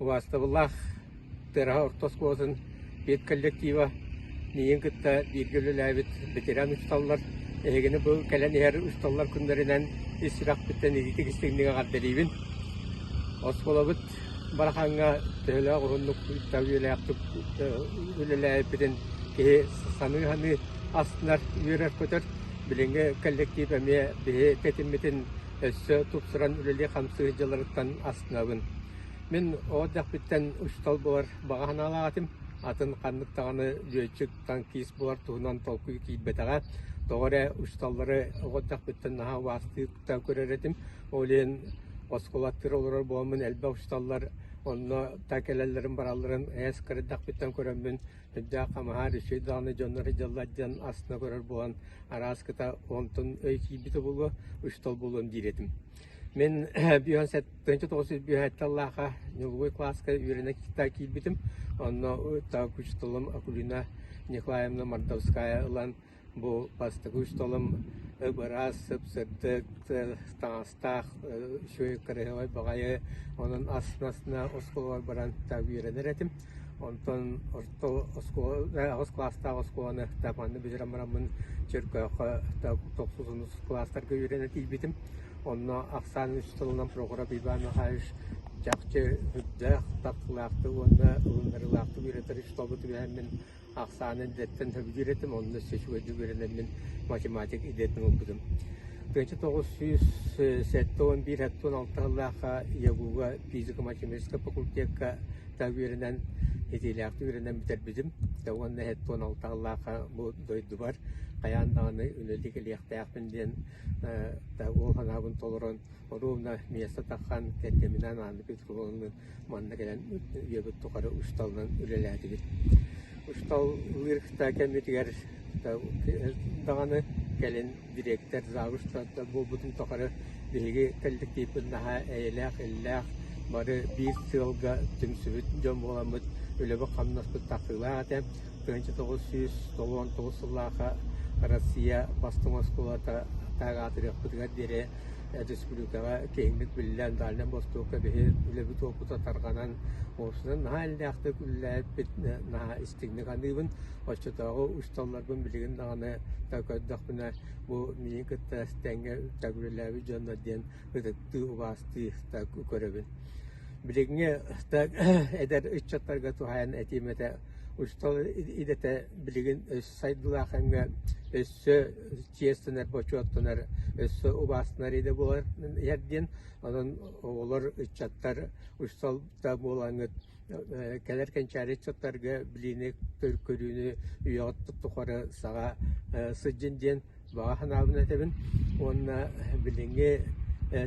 Убаастабыллаах Тыараһа орто оскуолатын педколлектива миигин кытта бииргэ үлэлээбит ветеран усталлар эһигини бу кэлэн иһэр усталлар күннэринэн ис сүрэхпиттэн ититик-истиҥник эҕэрдэлиибин. Оскуолабыт Барахаҥҥа төһөлөөх уһуннук үбүлээхтик үлэлээбиппитин киһи саныы-саныы астынар, үөрэр-көтөр. Билиҥҥи коллектив эмиэ биһи тэтиммитин өссө тупсаран үлэлии-хамсыы сылдьалларыттан астынабын. Мин оҕо эрдэхпиттэн учуутал буолар баҕа санаалаах этим, атын ханнык даҕаны лүөччүк, танкист буолар туһунан толкуй киирбэтэҕэ. Тоҕо эрэ учууталлары оҕо эрдэхпиттэн наһаа убаастыы кытта көрөр этим. Ол иһин оскуолаттыыр олорор буоламмын элбэх учууталлар онно так кэлэллэрин-баралларын эс кыра эрдэхпиттэн көрөммүн Сырдык хамаһар үчүгэй даҕаны дьоннор дьаллар диэн астына көрөр буолан араас кыта онтон өй киирбит обулу үстал булуон диир этим. Мин бүйөн тысяча тоғыз жүз бүйөт таллааха нюловой класска үөрэнэ китта киирбитим. Онно так учителым Акулина Николаевна Мордовская ылан Бу бастакы усталым ып-ыраас, сып-сырдык, таҥастаах үчүгэй кыраһыабай баҕайы, онон ас-массыына оскуолабар баран та үөрэнэр этим. Онтон орто оскуола, аҕыс кылаастаах оскуоланы та манна бүтэрэн бараммын Чөркөөххө та тохсус-онус кылаастарга үөрэнэ тиийбитим. Онно ахсаан учууталынан Прокурап Иван Михайлович чахчы үрдээх, тапталлаахтык уонна ылыннарыылаахтык үөрэтэр учууталбыт үһээммин ахсааны идэтиттэн сөбүлүүр этим, онно өссө үчүгэйдик үөрэнэммин математик идэтин ылбытым. тыһыынча тоҕус сүүс сэттэ уон биир хаттан алта сыллаахха ЯГУ-га физико-математическай факультекка та үөрэнэн итиилээхтик үөрэнэн бүтэрбитим. Та уонна хаттан алта сыллаахха бу дойдубар хайаан даҕаны үлэлик илиэхтээхпин диэн та ол санаабын толорон ровно место таххан кэргэминээн ааны Манна кэлэн үйэбит тухары учууталынан үлэлээтибит. Учууталлыыр кытта кэммитигэр даҕаны кэлин дириэктэр завуштар да буолбутун тухары биһиги коллективпыт наһаа эйэлээх-иллээх, бары биир сыалга түмсүбүт дьон буоламмыт, үлэбит-хамнаспыт тахсыылаах этэ. тыһыынча тоҕус сүүс толуон тоҕус сыллаахха Россия бастыҥ оскуолата таах аатырыахпытыгар диэри республикаҕа киэҥник биллэн, дальнай бостуокка биһир үлэбит уопута тарҕанан, уопсунан наһаа эллээхтик үллээппит, наһаа истиҥник аныыбын. Оччотооҕу учууталларбын билигин даҕаны да көрдөхпүнэ, бу миигин кытта тэҥҥэ төгүрүлээбит дьоннор диэн ытыктыы, убаастыы да көрөбүн. Билиҥҥи да эдэр ыччаттарга туһайан этиим этэ Учуутал идэтэ билигин өссө сайдыылаах кэмҥэ өссө чиэстэнэр, бочуоттанар, өссө убаастанар идэ буолар иһэр диэн. Онон оҕолор, ыччаттар учууталта буолаҥҥыт кэлэр кэнчээри ыччаттарга билиини, көрүүнү үйэҕит тухары саҕа сылдьын диэн баҕа санаабын этэбин уонна билиҥҥи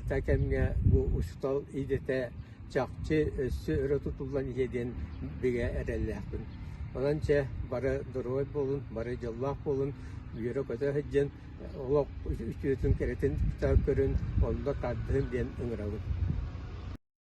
та кэмҥэ бу учуутал идэтэ чахчы өссө өрө тутуллан иһиэ диэн бигэ эрэллээхпин. Онон чэ бары доруой буолун, бары дьоллоох буолун, үөрэ-көтө сылдьын, олох үтүөтүн кэрэтин кытта көрүн, онно тардыһын диэн ыҥырабын.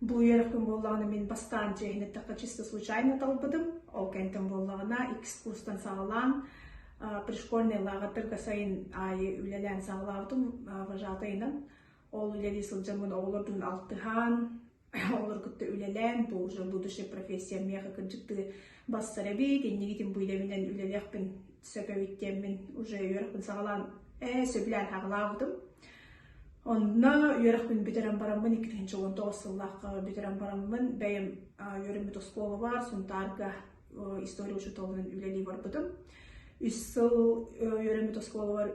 Бу үөрэх күн буоллаҕына мин бастаан чиэһин эттэххэ чисто случайно талбытым. Ол кэнтэн буоллаҕына экскурстан саҕалаан пришкольнай лааҕырдарга сайын аайы үлэлээн саҕалаабытым вожатайынан. Ол үлэлии сылдьаммын оҕолордун алтыһаан, олор кытта үлэлээн, бу уже будущая профессия миэхэ кырдьыктыы бассар эбит, иннигитин бу үлэбинэн үлэлиэхпин сөп эбит диэммин уже үөрэх күн саҕалаан ээ сөбүлээн хаҕылаабытым. Онно үөрэхпин бүтэрэн бараммын икки тысяча уон тоҕус сыллаахха бүтэрэн бараммын бэйэм үөрэммит оскуолабар Сунтаарга история учууталынан үлэлии барбытым. Үс сыл үөрэммит оскуолабар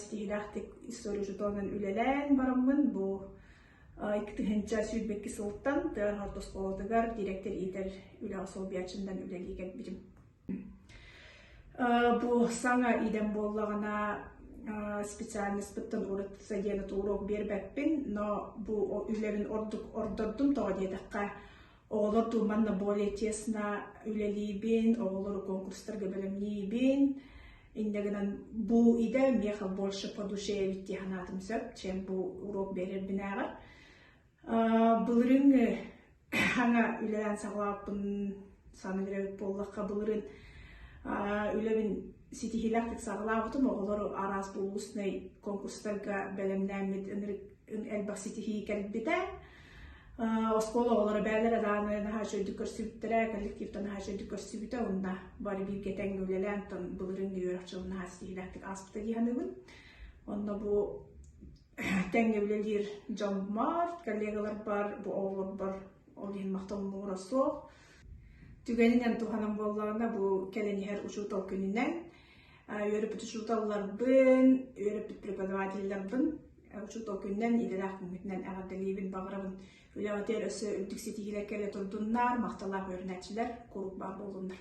ситиһиилээхтик история учууталынан үлэлээн бараммын бу икки тыһыынча сүүрбэкки сылтан тыа орто оскуолатыгар дириэктэр иитэр үлэҕэ солбуйааччындан үлэлии кэлбитим. Бу саҥа идэм буоллаҕына специальныспыттан ураты диэн уруок биэрбэппин, но бу үлэбин ордук ордордум тоҕо диэтэххэ оҕолор туу манна более тесно үлэлиибин, оҕолору конкурстарга бэлэмниибин. Иннэ гынан бу идэ миэхэ больше по душе эбит дии санаатым сөп, чем бу уруок биэрэрбинээҕэр. Былырыыҥҥы аҥа үлэлээн саҕалааппын саныыр эбит буоллахха, былырыын үлэбин ситиһиилээхтик саҕалаабытым. Оҕолор араас булуусунай конкурстарга бэлэмнээммит элбэх ситиһии кэлбитэ. Оскуола оҕолоро бэйэлэрэ дааны наһаа үчүгэйдик көрсүбүттэрэ, коллективтан наһаа үчүгэйдик көрсүбүтэ. Онно бары бииргэ тэҥҥэ үлэлээн, былырыын үөрэх дьылын наһаа ситиһиилээхтик ааспыта дии саныыбын. Онно бу тэҥҥэ үлэлиир дьон баар, коллегаларбар, бу оҕолорбор ол иһин махталлара суох. Түгэнинэн туһанан буоллаҕына бу кэлэн иһэр учуутал күнүнэн үөрөппүт учууталларбын, үөрөппүт преподавателлэрбин учуутал күнүнэн идэлээх күммүтүнэн эҕэрдэлиибин баҕарабын үлэҕитигэр өссө үрдүк ситиһиилэр кэлэ турдуннар махталлаах үөрэнээччилэр куруук баар буоллуннар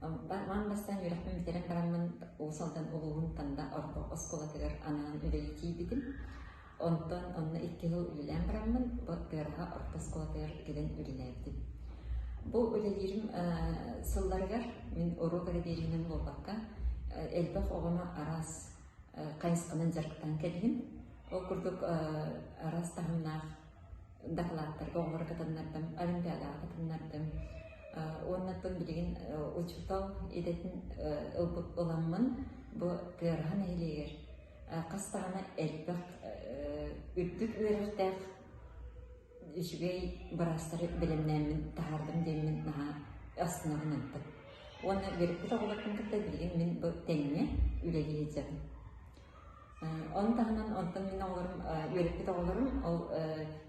Ман бастаан үөрэхпин бүтэрэн бараммын Уус Алдан улууһун Танда орто оскуолатыгар анаан үлэҕэ киирбитим. Онтон онно икки сыл үлэлээн бараммын Кыараҕа орто оскуолатыгар кэлэн үлэлээбитим. Бу үлэлиирим сылларыгар мин уруу бэрэбиэринэн буолбакка элбэх оҕону араас хайысханан дьарыктаан кэллим. Ол курдук араас таһымнаах дакылааттарга оҥоро кытыннардым, олимпиадаҕа кытыннардым. Уоннаттан билигин учуутал идэтин ылбыт ыламмын бу Тыараһа нэһилиэгэр хас даҕаны элбэх үрдүк үөрэртээх үчүгэй быраастары бэлэмнээммин таһаардым диэммин наһаа астынабын ыттым. Уонна төрөппүт оҕолорбун кытта билигин мин бу тэҥҥэ үлэлии сылдьабын. Ол таһынан онтон мин оҕолорум, үөрэппит оҕолорум ол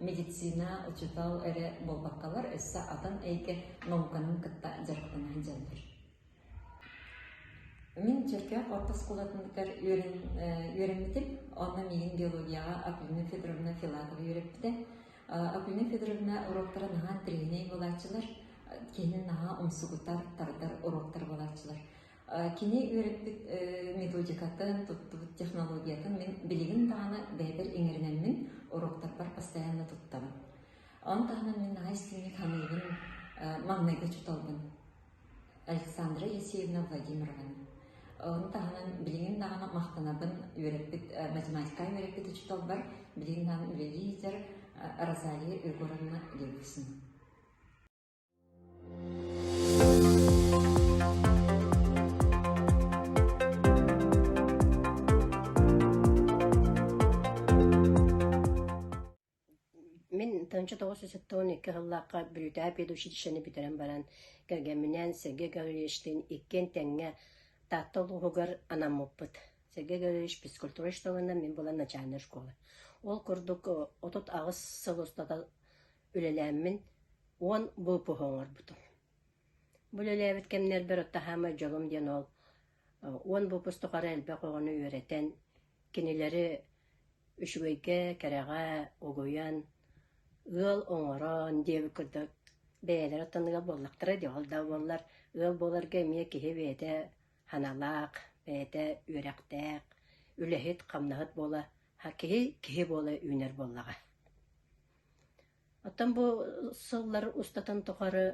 медицина, учуутал эрэ буолбаккалар өссө атын эйгэ науканын кытта дьарыктана сылдьаллар. Мин Чөркөөх орта оскуолатыгар үөрэммитим. Онно миигин биологияҕа Акулина Федоровна Филатова үөрэппитэ. Акулина Федоровна уруоктара наһаа тренер буолааччылар, киһини наһаа умсугутар, тардар уруоктар буолааччылар. Кини үөрэппит методикатын, туттубут технологиятын мин билигин даҕаны бэйэбэр иҥэринэммин, уруоктарбар постоянно туттабын. Ону таһынан мин наһаа истиҥник саныыбын, маҥнайгы учууталбын Александра Есеевна Владимировна. Ону таһынан билигин даҕаны махтанабын үөрэппит, математика үөрэппит учууталбар, билигин даҕаны үлэлиир лидер Розалия Егоровна Левксина. тынчы тоҕус сытыон икки хыллаахха бүрүтээ педучилищены бүтэрэн баран кэргэмминээн Сергей Гавриловичтыын иккиэн тэҥҥэ Таатта улууһугар анаммыппыт. Сергей Гаврилович физкультура школынан мин булан начальная школа. Ол курдук отут аҕыс сыл устата үлэлээммин уон выпуһу оҥорбутум. Бу үлэлээбит кэмнэрбэр отто саамай дьолум диэн ол уон выпуск тухары элбэх оҕону үөрэтэн, кинилэри үчүгэйгэ, кэрэҕэ угуйан, ыал оҥорон диэбит курдук бэйэлэрэ оттонуга буоллахтара дии, ол да буоллар ыал буоларга эмиэ киһи бэйэтэ саналаах, бэйэтэ үөрэхтээх, үлэһит, хамнаһыт буола, киһи киһи буола үүнэр буоллаҕа. Оттон бу сыллар устатын тухары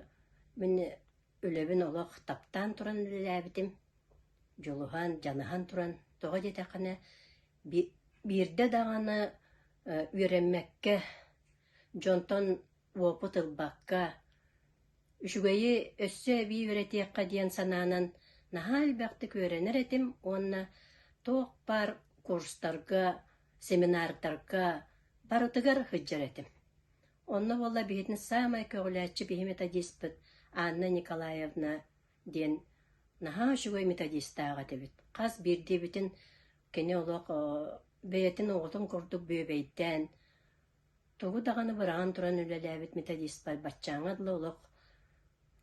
мин үлэбин олох таптаан туран үлэлээбитим, дьулуһан, дьаныһан туран тоҕо диэтэххинэ би- биирдэ даҕаны үөрэммэккэ, дьонтон уопут ылбакка, үчүгэйи өссө эбии үөрэтиэххэ диэн санаанан наһаа элбэхтик үөрэнэр этим уонна туох баар курстарга Семинардарга барытыгар сылдьар этим. Онно буолла биһитин саамай көҕүлээччи биһимэтэ диэспит Анна Николаевна диэн наһаа үчүгэй методистаах этибит. Хас биирдиибитин кини олох бэйэтин оҕотун курдук бүөбэйдээн, тугу даҕаны быраҕан туран үлэлээбит методистпар баччааҥҥа дылы олох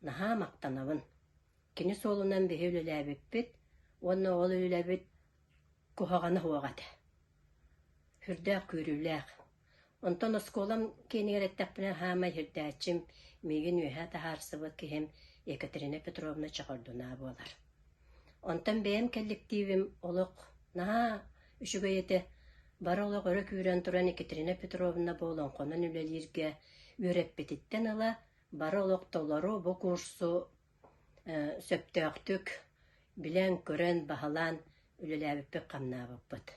наһаа махтанабын. Кини суолунан биһи үлэлээбиппит уонна ол үлэбит куһаҕана суох этэ. Сүрдээх күүрүүлээх. Онтон оскуолам киэнигэр эттэхпинэ, саамай сирдээччим, миигин үөһэ таһаарсыбыт киһим Екатерина Петровна Чехордунаа буолар. Онтон бэйэм кэлликтиибим олох наһаа үчүгэй этэ. Бары олох өрө күүрэн туран Екатерина Петровна бу олоҥхонон үлэлииргэ үөрэппититтэн ыла бары олох толору бу курсу сөптөөхтүк билээн-көрөн, баһылаан үлэлээбиппит хамнаабыппыт.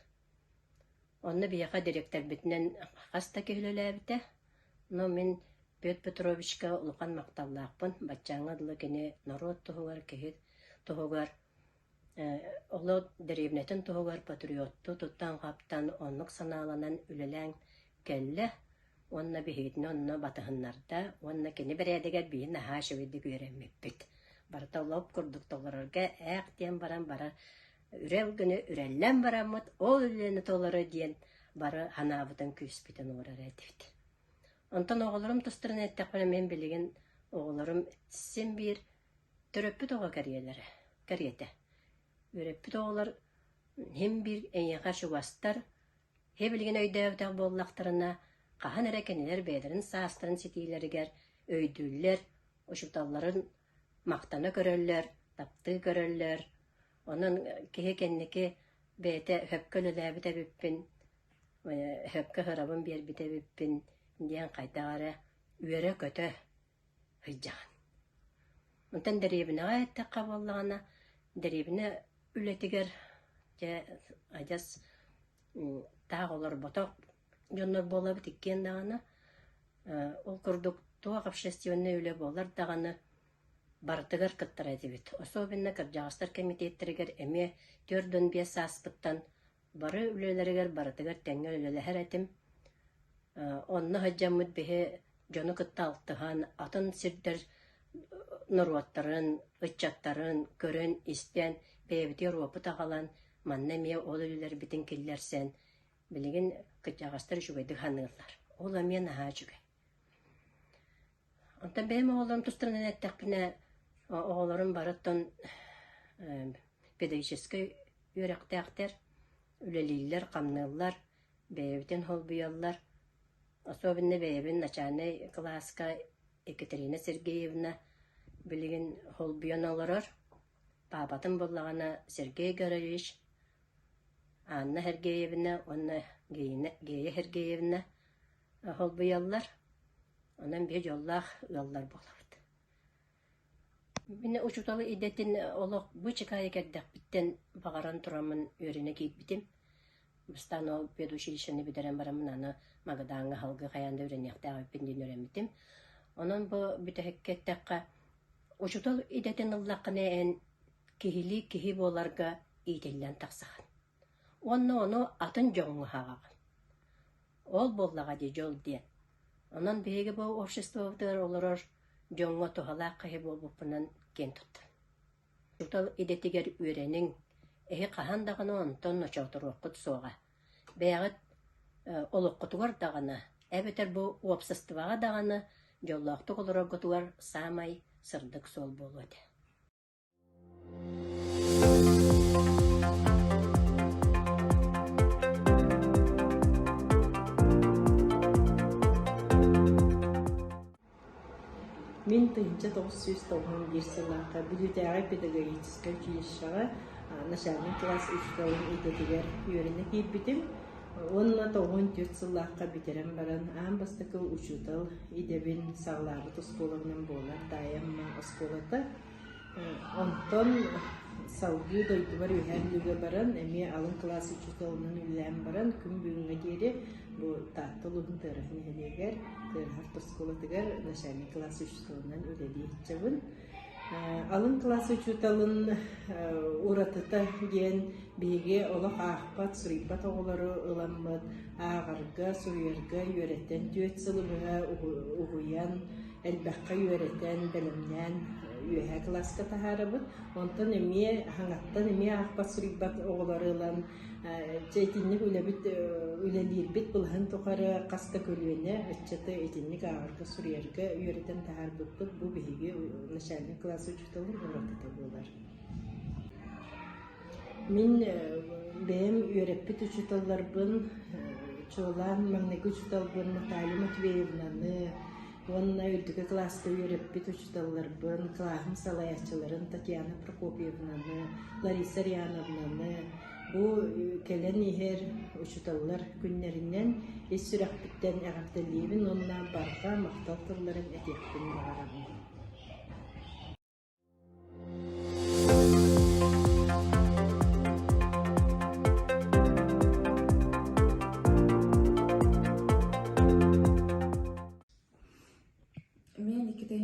Онно биһиэхэ дириэктэрбитинэн хас да киһи үлэлээбитэ, но мин Петр Петровичка улахан махталлаахпын, баччааҥҥа дылы кини норуот туһугар, киһи туһугар Оло дэриэбинэтин туһугар патриоттуу туттан-хаптан оннук санааланан үлэлээн кэллэ уонна биһигитини онно батыһыннарда уонна кини бэрээдэгэр биһи наһаа үчүгэйдик үөрэммиппит. Барыта лоп курдук толорорго «Ээх!» диэн баран барар үрэл гына үрэллэн бараммыт ол үлэни толору диэн бары санаабытын күүспүтүн уурар этибит. Онтон оҕолорум тустарынан эттэхпинэ мин билигин оҕолорум син биир Төрөппүт оҕо кэриэлэрэ, кэриэтэ. Үөрэппит оҕолор син-биир эйиэхэ чугастар, киһи билигин өйдөөбөтөх буоллахтарына, хаһан эрэ кинилэр бэйэлэрин саастарын ситиилэригэр өйдүүллэр, учууталларын махтана көрөллөр, таптыы көрөллөр. Онон киһи кэнники бэйэтэ өһөккө үлэлээбит эбиппин, өһөккө ыһырабын биэрбит эбиппин диэн хайдах эрэ үөрэ-көтө Ыйдьаҕын. Онтон дэриэбинэҕэ эттэххэ буоллаҕына, дэриэбинэ үлэтигэр, дьэ, адьас таах олорботох дьоннор буолабыт иккиэн даҕаны, ол курдук туох общественнай үлэ буолар даҕаны, барытыгар кыттар этибит. Особенно кырдьаҕастар кэмитиэттэригэр эмиэ түөрт уон биэс сааспыттан Бары үлэлэригэр барытыгар тэҥҥэ үлэлэһэр этим. Онно сылдьаммыт биһи дьону кытта алтыһан, атын сирдэр норуоттарын, ыччаттарын көрөн, истэн, бэйэбитигэр опыт аҕалан, манна эмиэ ол үлэлэрбитин киллэрсэн, билигин кырдьаҕастар үчүгэйдик саныыллар. Ол эмиэ наһаа үчүгэй. Оттон бэйэм оҕолорум тустарынан эттэхпинэ, оҕолорум барыттан педагогическай үөрэхтээхтэр, үлэлииллэр, хамныыллар, бэйэбитин холбуйаллар. Особенно бэйэбин начальнай кылааска Екатерина Сергеевна билигин холбуйан олорор. Паапатын буллаҕына Сергей Гороевич, Анна Сергеевна уонна Гея Сергеевна. Аһылбыйаллар, онон биир дьоллоох ыаллар буолабыт. Мин учуутал идэтин олох бычыкаайы кэрдэхпиттэн баҕаран тураммын үөрэнэ киирбитим. Бастаан ол педучилищены бүтэрэн бараммын аны Магадааҥҥа аһылгы хайаан да үөрэниэхтээх эбиппин диэн үөрэммитим. Онон бу бүтэһиккэ эттэххэ, учуутал идэтин ыллаххына эн киһилии киһи буоларга иитиллэн тахсаҕын. Уонна ону атын дьоҥҥо аһаҕаҕын. Ол буоллаҕа дии дьол диэн. Онон биһиги бу обществобытыгар олорор дьоҥҥо туһалаах киһи буолбуппунан киэн туттан. Учуутал идэтигэр үөрэниҥ, эһи хаһан даҕаны онтон очоҕоторуоххут суоҕа. Бэйэҕит олоххутугар даҕаны, эбэтэр бу уопсастыбаҕа даҕаны дьоллоохтук олороргутугар саамай сырдык суол буолуо этэ Мин тыһынча тоҕус сүүс тоҕуһун биир сыллаахха Бүлүүтээҕи педагогическай училищеҕа начальнай кылаас учууталын идэтигэр үөрэнэ киирбитим. Уонна тоҕуһун түөрт сыллаахха бүтэрэн баран аан бастакы учуутал идэбин саҕалаабыт оскуоланан буолар таайамма оскуолата Онтон салгыы дойдубар үһэ андыыга баран, эмиэ алын кылаас учууталынан үлэлээн баран, күн бүгүҥҥэ диэри бу Таатта улууһун Тыараҕа нэһилиэгэр, Тыараһар тоскуолатыгар начальнай кылаас учууталынан үлэлии сылдьабын. Алын кылаас учууталын уратыта диэн биһиги олох аахпат, суруйбат оҕолору ыламмыт, ааҕарга, суруйарга үөрэтэн түөрт сылы быһа уһуйан, элбэххэ үөрэтэн, бэлэмнээн үөһээ кылааска таһаарабыт. Онтон эмиэ хаҥаттан эмиэ аахпат суруйбат оҕолору ылан чэ итинник үлэбит үлэлиирбит былаһын тухары хас да көлүөнэ ыччаты итинник ааҕарга суруйарга үөрэтэн таһаарбыппыт бу биһиги начальник класс учууталын ураты буолар Мин бэйэм үөрэппит учууталларбын, чуолаан маҥнайгы учууталбын Наталья Матвеевнаны уонна үрдүкү кылааска үөрэппит учууталларбын, кылааһым салайааччыларын Татьяна Прокопьевнаны, Лариса Ариановнаны бу кэлэн иһэр учууталлар күннэринэн ис сүрэхпиттэн эҕэрдэлиибин уонна барҕа махтал тылларын этиэхпин баҕарабын.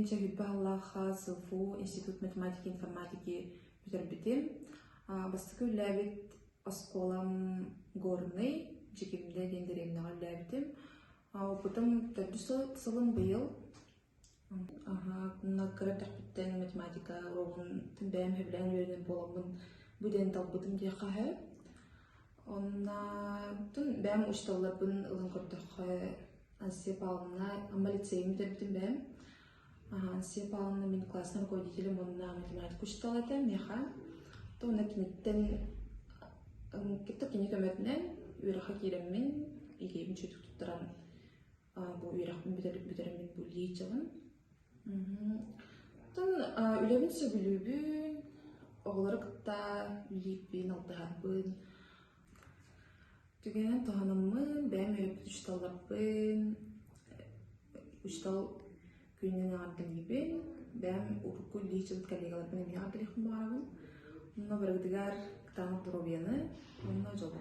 инчэбит бааллаах сылфу институт математики информатики бүтэрбитим. Бастакы үллээбит оскуолам Горный, Дьикимдэ диэн деревняҕа үллээбитим. Опытым төрдүс сылым быйыл кыратахпыттан математика уруогун бэйэм сөбүлээн үөрэнэр буоламмын бу диэн талбытым диэххэ сөп. Онно бэйэм учууталларбын ылан көрдөххө сепалына Амма лицейын бүтэрбитим бэйэм. Сепалына мин классный руководителем уонна математика учуутала этэ миэхэ. Уонна киниттэн кытта кини көмөтүнэн үөрэххэ киирэммин ийэбин чөтүк туттаран бу үөрэхпин бүтэрэммин бу лии дьылын. Тан үлэбин сөбүлүүбүн, оҕолору кытта үллииппин, алтыһарбын, түгэнен туһанаммын, бэйэм өйөппүт учууталларбын, учуутал күнүнэн аҥардангибин, бэйэм урукку лии дьыл коллегаларбын эмиэ келихпин баҕарабын. Онно барыгытыгар кытаанах доруобуйаны, онно дьолу.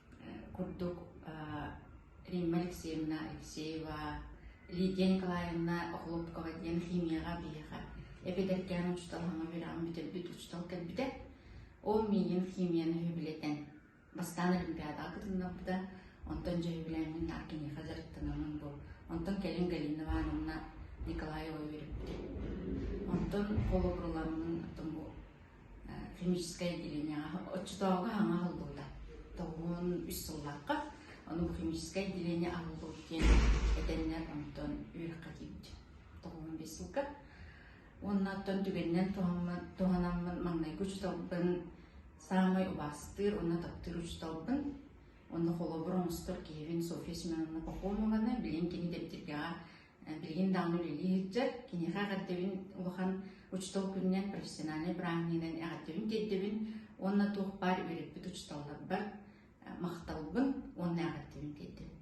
курдук Римма Алексеевна Алексеева, Лидия Николаевна Охлопкова диэн химияҕа биһиэхэ эпидэркээн учууталхаҥа үөрэҕин бүтэрбит учуутал кэлбитэ. Ол миигин химияны үбүлэтэн бастаан олимпиадаҕа кытыннарбыта. Онтон дьөһүбүлээҥҥин наар киниэхэ дьарыктанамын бу. Онтон кэлин Галина Ивановна Николаева үөрүппүтэ. Онтон холобурламмын химическэй отделениеҕа оччотооҕу хаҥа холбуута тоҕуон үс сыллаахха ону бу химическэй отделение аһыллыбыт диэн этэннэр онтон үөрэххэ киирбит тоҕуон бес сылга уонна оттон түгэнинэн туһанаммын маҥнайгы учууталбын саамай убаастыыр уонна таптыыр учууталбын уонна холобур оҥостор киһибин Софья Семеновна Пахомованы билин кини дэбитиргэҕэ билигин даҕаны үлэлии сылдьар киниэхэ эҕэрдэбин улахан учуутал күнүнэн профессиональнай бырааһынньыгынан эҕэрдэбин тиэрдэбин уонна туох баар үөрэппит учууталларбар махталбын уонна эҕэрдэбин тиэрдэбин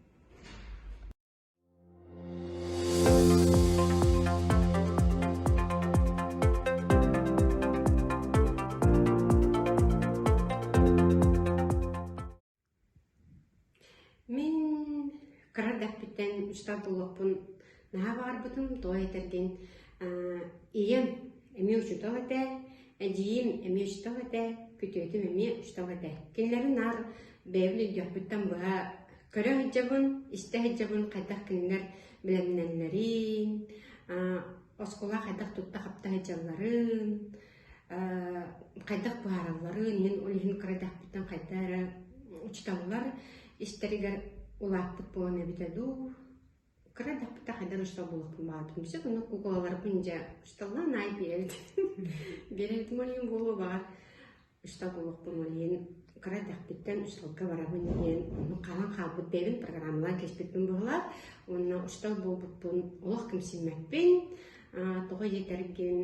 Мин кыра эрдэхпиттэн үстал буолуохпун наһаа баҕарбытым, тоҕо этэргин, ийэм эмиэ учуутал этэ, эдьиийим эмиэ учуутал этэ, күтүөтүм эмиэ учуутал этэ. Кинилэри наар бэйэбин өйдөөхпүттэн быһа көрө сылдьабын, истэ сылдьабын хайдах кинилэр бэлэмнэннэрин, оскуола хайдах тутта-хапта сылдьалларын. хайдах быһааралларын мин ол иһин кырайдахпыттан хайда эрэ учуталлар истэригэр улааппыт буолан эбитэ дуу кырайдахпыта хайдан учутал булуохпун баҕатым сөп аны кукулаларбын дьэ учуталлаан аай биэрэбит биэрэбит молиин буолуо баҕар учутал булуохпун молиин кырайдахпыттан учуталга барабын диэн ону хаалан хаалбыт бэйэбин программалаан кэспиппин быһылаат уонна учутал буолбуппун олох ким симмэппин тоҕо диэтэргин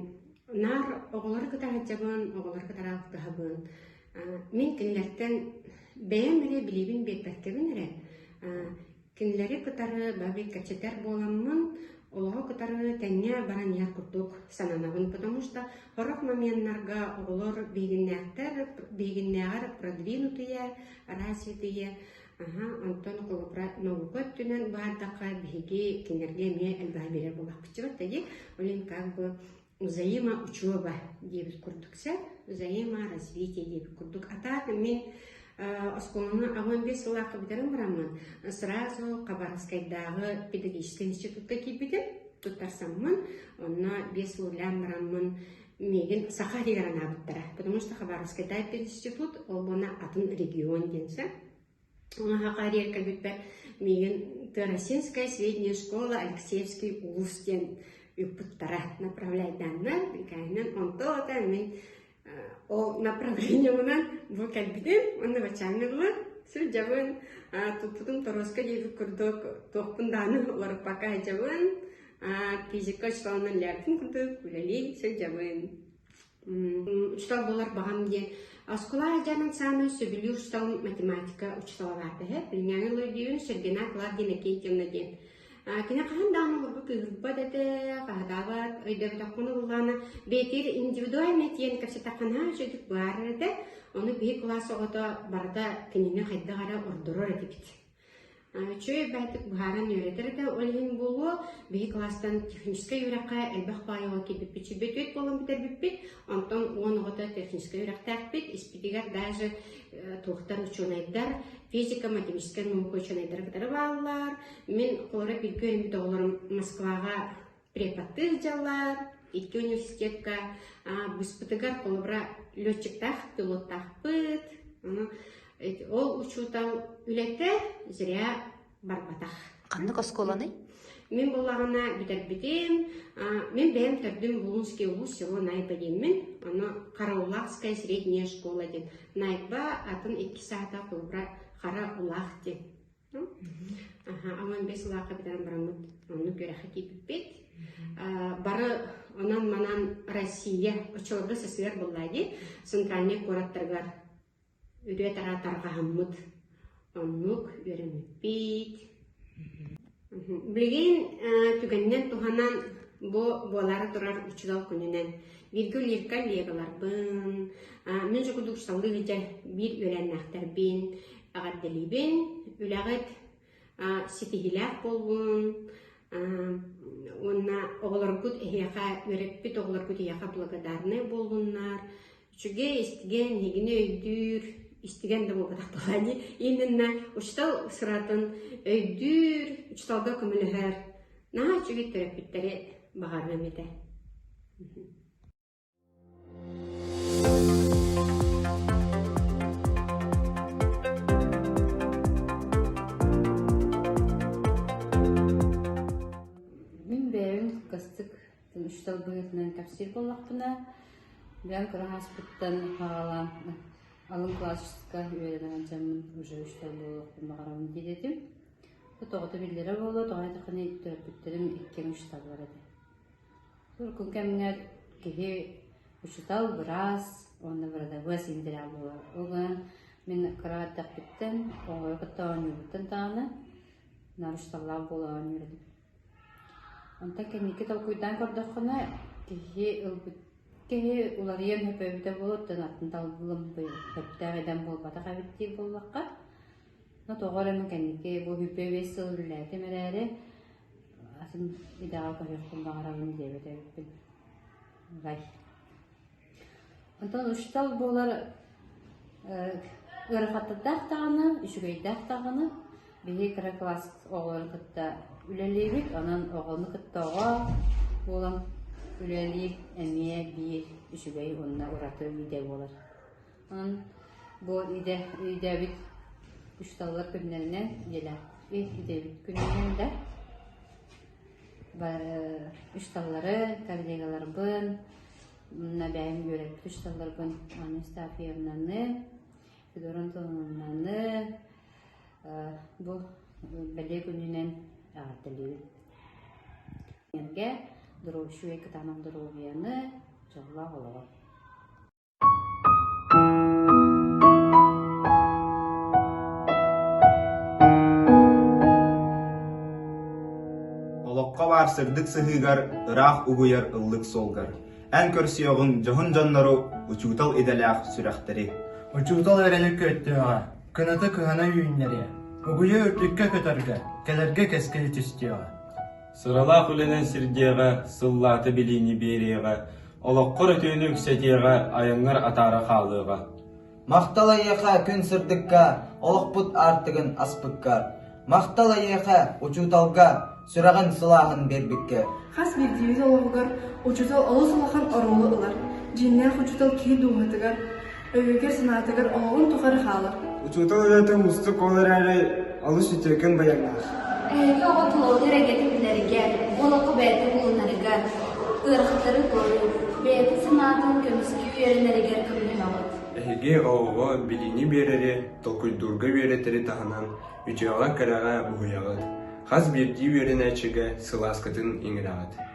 наар оҕолору кытта сылдьабын, оҕолору кытары алтыһабын. Мин кинилэртэн бэйэм эрэ билиибин биэрбэккэбин эрэ, кинилэри кытары бэбиккэчитэр буоламмын, олоҕу кытары тэҥҥэ баран иһэр курдук сананабын, потому что horror моменнарга оҕолор биһигиннээхтэр, биһигиннээҕэр продвинутые, развитые, Аһаа, онтон холобура наука өттүнэн баардахха биһиги кинилэргэ эмиэ элбэҕи биэрэр буоллахпытчыбыт да дии. Олень как бы взаимоучеба диэбит курдук сэ взаиморазвитие диэбит курдук атаат мин оскуоланы аҕам бес сылаакка бүтэрэн бараммын сразу хабаровскайдааҕы педагогическай институтка киирбитим туттарсаммын онно бес сыллаан бараммын миигин саха этигэр анаабыттара потому что хабаровский тайпы институт ол буолна атын регион диэнсэ онаһаха эриэр кэлбиппэр миигин Тырасинская средняя школа Алексеевский улус диэн үппуттара направляйдааннар икаанан онтоota мин ол направлениемынан бу кэлбитим онно бачааннылар сылдьабын туппутум торуоска диэбит курдук туохпун дааны уларыппакка сылдьабын физика учууталынан лябкин кытык үлэлии сылдьабын учуутал буолар баҕам диэн оскуола дьаның саамай сөбүлүүр учууталым математика учууталлаах эһэ билиҥҥэҥи лойдүйун сергена клавдия иннокентьевна диэн кини хаһан даҕаны олорбут ыырбат этэ хаһадаабат өйдөөбөтөххүн ыллаана бэйэтигэр индивидуальный тиэн кэпсэтэххинаа үчүгдүк баар этэ ону биһи кылаас оҕото барыта кинини хайдах эрэ ордорор этибит Үчүгэй элбэхтик быһааран үөрэтэр этэ, ол иһин буолуо, биһи кылаастан техническэй үөрэххэ элбэх баайаҕа киирбиппит сирбит үт буолан бүтэрбиппит, онтон уон оҕото техническэй үөрэхтээхпит, испитигэр даже туохтар учуонайдар, физика, математика, наука учуонайдара кытары бааллар. Мин холоро бииргэ үөрэммит оҕолорум Москваҕа преподтыыр дьаллар икки университетка быспытыгар холобура летчиктаах пилоттаахпыт ол учуутал үлэтэ зря барбатах ханнык оскуоланы мен буллаҕына бүтэрбитим мен бэйэм төрдүм булунский улуус село найбадиммин аны караулахская средняя школа диэн найба атын икки саата холобура хара улаах диэн Аҕам бэс сылаахха бүтэрэн бараммыт, оннук үөрэххэ киирбиппит. Бары онон-манан Россия очолорго сысыар булла дии, центральный куораттаргар үрүө-тараа тарҕаһаммыт. Оннук үөрэммиппит. Билигин түгэннэн туһанан бу буолара турар учурал күнүнэн Виргүл Ирка Легаларбын, мен же кудуксалыы дьэ биир үөлэннээхтэрбин, Эҕэрдэлиибин, үлэҕит ситиһиилээх буоллун уонна оҕолоргут эһиэхэ, үөрэппит оҕолоргут эһиэхэ благодарнай буоллуннар. Үчүгэй истигэн, нигини өйдүүр, истигэн да буолбатах баҕани иннинэ учуутал сыратын өйдүүр, учууталга көмөлөһөр наһаа үчүгэй төрөппүттэри баҕарыам этэ. учтал быһыытынан кэпсиир буоллахпына бэйэм кыра ааспыттан хаалан алын классическа үөрэнэр анчаммын уже учтал буолуохпун баҕарабын диэтим тоҕото биллэрэ буолуо тоҕо этэххинэ төрөппүттэрим иккиэн учталлар этэ Урукку кэмҥэр киһи учуутал быраас уонна бырадабыас интэрээл буолар. Ол гынан мин кыра эрдэхпиттэн оҕону кытта оонньуубуттан даҕаны наар учууталлаах буола оонньуур этим. Онтон кэнники толкуйдаан көрдөххүнэ, киһи ылбыт киһи уларыйан өпөөбүтэ буолуоттан атын талбылым бэбдээх эдэр буолбатах эбит дии буоллахха Но тоҕо эрэ мин кэнники бу бүппэ биэс сыл үлэлээтим эрээри атын идэҕэ көрүөхпүн баҕарабын диэбит эбиппин. Гай. Онтон учуутал буолар ыарахаттардаах даҕаны, үчүгэйдээх даҕаны биһи кыра класс оҕолору кытта үлэлиибит, онон оҕону кытта оҕо буолан үлэлиир эмиэ биир үчүгэй уонна ураты идэ буолар. Бу өйдөөбүт учууталлар күннэринэн дьиэлэр өйдөөбүт күнүнэн да учууталлары, коллегаларбын, бэйэм үөрэппит учууталларбын Анна Ыстаапьевнаны, Федорун Толунаны бу бэлиэ күнүнэн эҕэрдэлиибит. Энерге, здоровье, кытаанах доруобуйаны, дьоллоох олоҕу. Олоххо баар сырдык сыһыыгар ыраах угуйар ыллык суолгар эн көрсүөҕүҥ дьоһун дьоннору, учуутал идэлээх сүрэхтэри. Учуутал эрэли күөттүөҕэ, кыната кыһана үүннэриэ, угуйа үрдүккэ көтөргө, кэлэргэ кэскил түстүөҕэ. Сыралаах үлэнэн сирдиэҕэ, сыллаата билиини биэриэҕэ, олоххор өтөөнү үксэтиэҕэ, айаҥҥар атаара хаалыаҕа. Махтал эйиэхэ күн сырдыкка, олохпут аартыгын аспыкка. Махтал эйиэхэ, учууталга, сүрэҕин сылааһын биэрбиккэ. Хас биирдиибит олоҕугар учуутал олус улахан оруолу ылар. Дьиҥнээх учуутал киһи дууһатыгар, Өйүүргэ санаатыгар оһоҕун тухары хаалар. Учуутал үлэтэ уустук ол эрээри олус үтүөкэн байаҥнаах. Эһиги оҕо тулалыыр эйгэтин билэргэ, бу олоххо бэйэтэ булунарыгар, ыарахаттары көрүү, бэйэтин санаатын көмүскүү үөрэнэригэр көмөлөһөҕүт. Эһиги оҕоҕо билиини биэрэри, толкуйдуурга үөрэтэри таһынан үтүөҕэ-кэрэҕэ буһуйаҕыт. Хас биирдии үөрэнээччигэ сылааскытын иҥэрэҕит.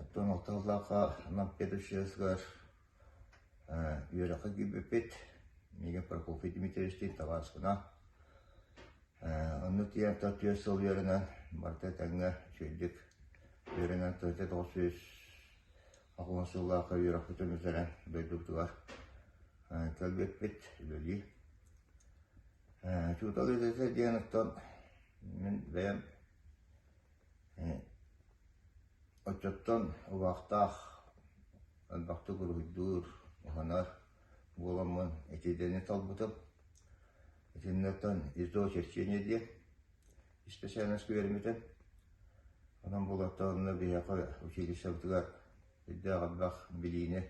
Оттон ол тыллаахха нам педучилищеҕар ээ үөрэххэ киирбиппит миигин Прокофий Дмитриевичтыын табаарыскына ээ онно тиийэн төрт-түөрт сыл үөрэнэн барыта этэҥҥэ үчүгэйдик үөрэнэн төрүтэ-тоҕус сүүс аҕыс сыллаахха үөрэхпит өмүтэрэн дойдубутугар ээ кэлбиппит үлэлии. Ээ учуутал идэтэ диэн оттон мин бэйэм Оччоттон убаахтаах, элбэхтик уруһуйдуур, уһанар буоламмын этиилэни талбытым. Итиннэттэн «Изо чтения» диэн исписээнэски үөрэммитим. Онон буолаттаҕына биһиэхэ училищебытыгар үрдээх элбэх билиини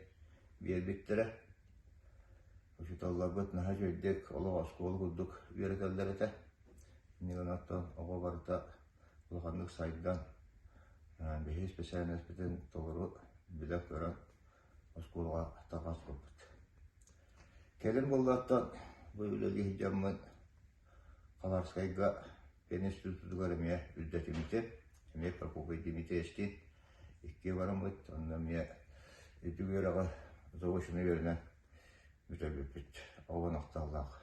биэрбиттэрэ. Учууталларбыт наһаа үчүгэйдик олох оскуола курдук үөрэтэллэр этэ. Иннигин оттон оҕо барыта улаханнык сайдан, биһиги исписээнэспитин толору билэ-көрө оскуолаҕа тарҕаспыппыт. Кэлин буоллаттан бу үлэлии сылдьаммын Хабарскайга пен институтугар эмиэ үрдэтиммитим. Эмиэ Прокопий Дмитриевскиин икки бараммыт, онно эмиэ ити үөрэҕи заочно үөрэнэн Бүтэбиппит. Ол ынахталлаах.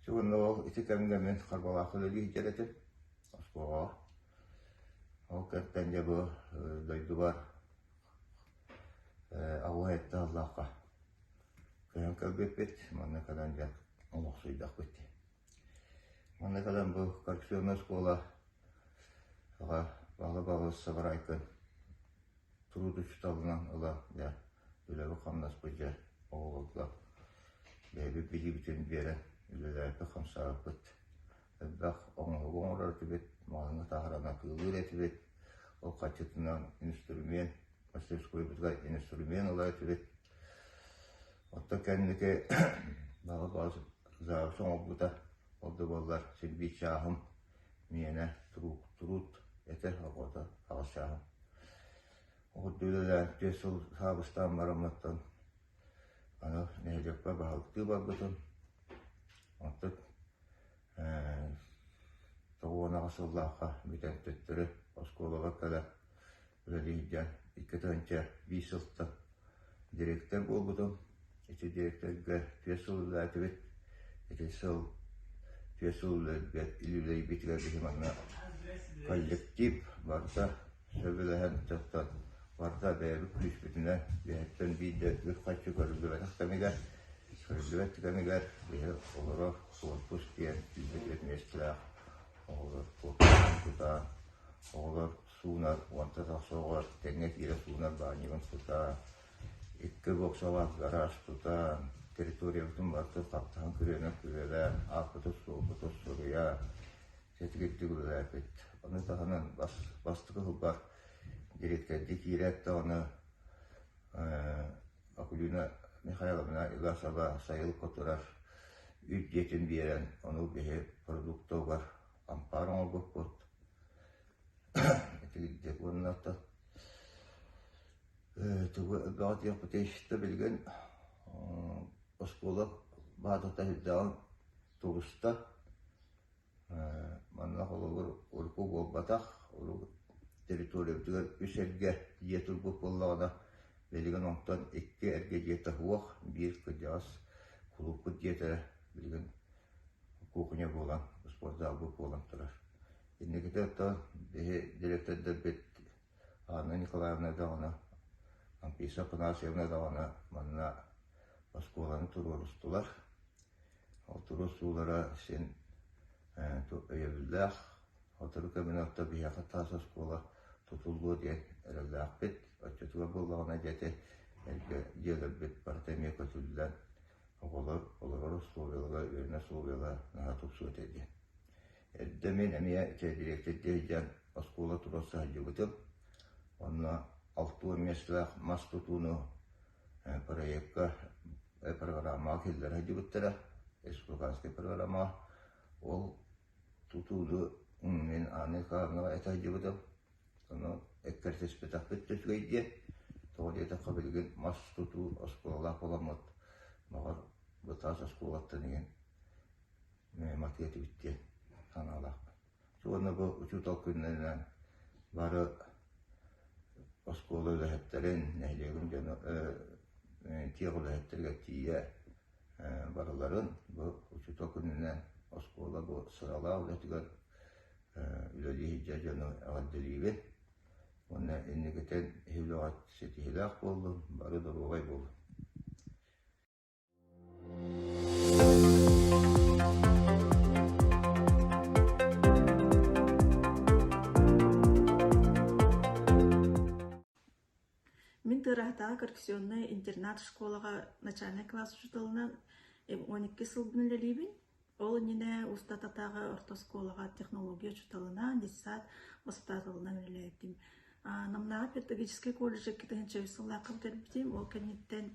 Ити уонна ол ити кэмҥэ мин харбалаах үлэлии сылдьар этим оскуолаҕа. Ол кэнниттэн дьэ бу дойдубар аҕуһа этти аллаахха көһөн кэлбиппит. Манна кэлэн дьэ олохсуйдахпыт. Маннык ылан бу коррекционнай оскуола аҕа Павла Павлович Сабарайкын туруутуччуталынан ыла дьэ үлэбит-хамнас былдьа оҕолорго бэйэбит билиибитин биэрэн үлэлээбиппит-хамсаабыппыт, элбэх оҥоһугу оҥорор этибит, маһыҥы таһаран атыылыыр этибит, ол харчытынан инструмент, мастерскойбутугар инструмент ылар этибит. Оттон кэнники баҕа баҕас завуч оҥорбута. Ол да буоллар син биир чааһым миэнэ трук труд этэр оҕото аҕыс чааһым. Ордук үлэлээн түөрт сыл саабыстаан бараммыттан аны нэһилиэкпэ баһылыктыы барбытым. Оттон тоҕуон аҕыс сыллаахха бүтэн төттөрү оскуолаҕа кэлэн Үлэлииргэ икки тыһыынча биис сылтан дириэктэр буолбутум. Ити дириэктэргэ түөрт сыл үлэлээтибит. Ити сыл түөрт сыл үлэлэрбит үлэлэйбитигэр биһи манна коллектив барда сөбүлэһэн дьоттон барда бэйэбит күүспүтүнэн биһиттэн биирдэ үс хаччы көрүллүбэтэх кэмигэр көрүллүбэт кэмигэр биһи олоро отпуск диэн үлэлиир миэстэлээх оҕолор отпуска тутаан оҕолор суунар уонта тахсоҕор тэҥҥэ киирэ суунар баанньыбын тутан икки боксалаах гараж тутан территориябытын барыта хаптаһын күрүөнэн күрүөлээн ааппытыт суолбутут суруйа сэтгиттик үлэлээпит аны таһынан бас бастакы сылбар дириэткэрдии киирээттэҕинэ Акулина Михайловна Игасова сайыл кутурар үс дьиэтин биэрэн ону биһи продуктугар ампаар оҥорбуппут Итирдэ уонна ата ээ тугу элбэҕи диэхпитий да билигин оскуола баатата ирдээҕин тулуста. Манна холобур урукку буолбатах, урукку территориябытыгар үс эргэ дьиэ турбут буоллаҕына, билигин онтон икки эргэ дьиэ таһыах, биир кырдьаҕас кулууппут дьиэтэ билигин кухня буолан, спортзал буолан турар. Инникитэ оттон биһи дириэктэрдэрбит Анна Николаевна даҕаны, Амписа Афанасьевна даҕаны манна оскуоланы туруорустулар. Ол туруорсуулара син өйөбүллээх. Сотору кэминэн биһиэхэ таас оскуола тутуллуо диэн эрэллээхпит. Оччотугар буоллаҕына дьэти эргэ дьиэлэрбит барыта эмиэ көтүллэн, оҕолор олорор усулуобуйалара, үөрэнэр усулуобуйалара наһаа тупсуо этэ диэн. Эрдэ мин эмиэ директордыы иһэн оскуола тура сылдьыбытым. Онно алта уон миэстэлээх мас тутууну проекка программаҕа киллэрэ сылдьыбыттара, республиканскай программаҕа. Ол тутууну мин Анна Николаевнаҕа этэ сылдьыбытым. Ону эккирэтиспэтэхпит үчүгэй диэн. Тоҕо диэтэххэ билигин мас тутуу оскуолалаах буоламмыт, баҕар, бытаас оскуолаттан иһин матыа этибит диэн санаалаахпын. Уонна бу учуутал күннэринэн бары оскуола үлэһиттэрин, нэһилиэгим дьоно тиэх үлэһиттэригэр тиийэ барыларын бу учуутал күнүнэн оскуола бу сыралаах үлэтигэр үлэлии сылдьар дьону эҕэрдэлиибин уонна инникитин иһи үлэҕит ситиһиилээх буоллун, бары доруобай буолун. Мин Тыыраахтааҕы коррекционнай интернат-школаҕа начальнай класс учууталынан он икки сылбын үлэлиибин. Ол иннинэ устататааҕы орто оскуолаҕа технология учууталынан, детсад воспитателынан үлэлээтим. Намнааҕы педагогическай колледжы икки тыһыынча үс сыллаахха бүтэрбитим. Ол кэнниттэн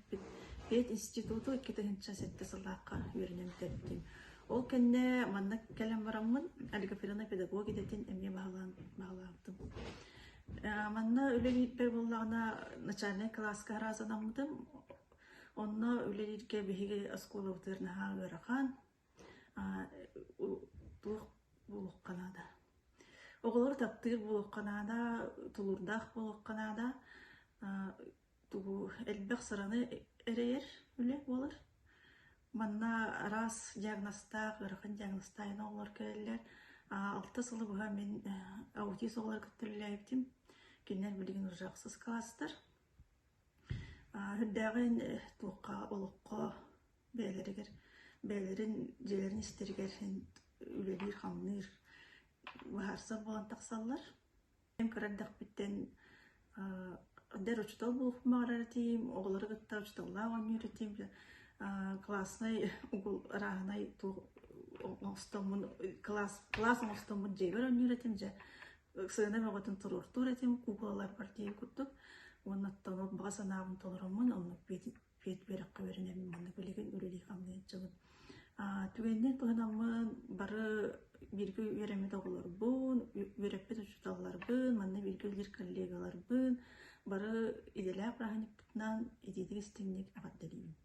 пединституту икки тыһыынча сэттэ сыллаахха үөрэнэн бүтэрбитим. Ол кэннэ манна кэлэн бараммын олигофрена педагог идэтин эмиэ баһылаан баһылаабытым. Манна үлэ биэрбэр буоллаҕына начальнай кылааска араазанаммытым. Онно үлэлииргэ биһиги оскуолабытыгар наһаа ыарахан, туох буолуохха наада? Оҕолору таптыыр буолуохха наада, тулуурдаах буолуохха наада, тугу элбэх сыраны эрэйэр үлэ буолар. Манна араас диагнозтаах, ыарахан диагнозтаах эн оҕолор кэлэллэр. Алта сылы быһа мин аутист оҕолору кытта үлэлээбитим. Кинилэр билигин уже ахсыс кылаастар. Үрдээҕин туохха, олоххо бэйэлэригэр, бэйэлэрин дьиэлэрин истэригэр үлэлиир-хамныыр быһаарсар буолан тахсаллар. Эн кыра эрдэхпиттэн эр учуутал буолуохпун баҕарар этим, оҕолору кытта учууталлаах оонньуур этим, кылааснай ырааһынай туох оҥостоммун, кылаас оҥостоммут дьиэбэр оонньуур этим, дьэ Ыксаана бөҕөтүн туруортуур этим, куукулаларбар тиийэн курдук, уонна оттонор баҕа санаабын толороммун, онно пиэт үөрэххэ үөрэнэбин уонна билигин үлэлии хамныйан аччабын. Түгэнинэн туһанаммын бары бииргэ үөрэммит оҕолорбун, үөрэппит учууталларбын, манна бииргэ үлэлиир коллегаларбын бары идэлээх бырааһынньыкпытынан итиитик-истиҥник эҕэрдэлиибин.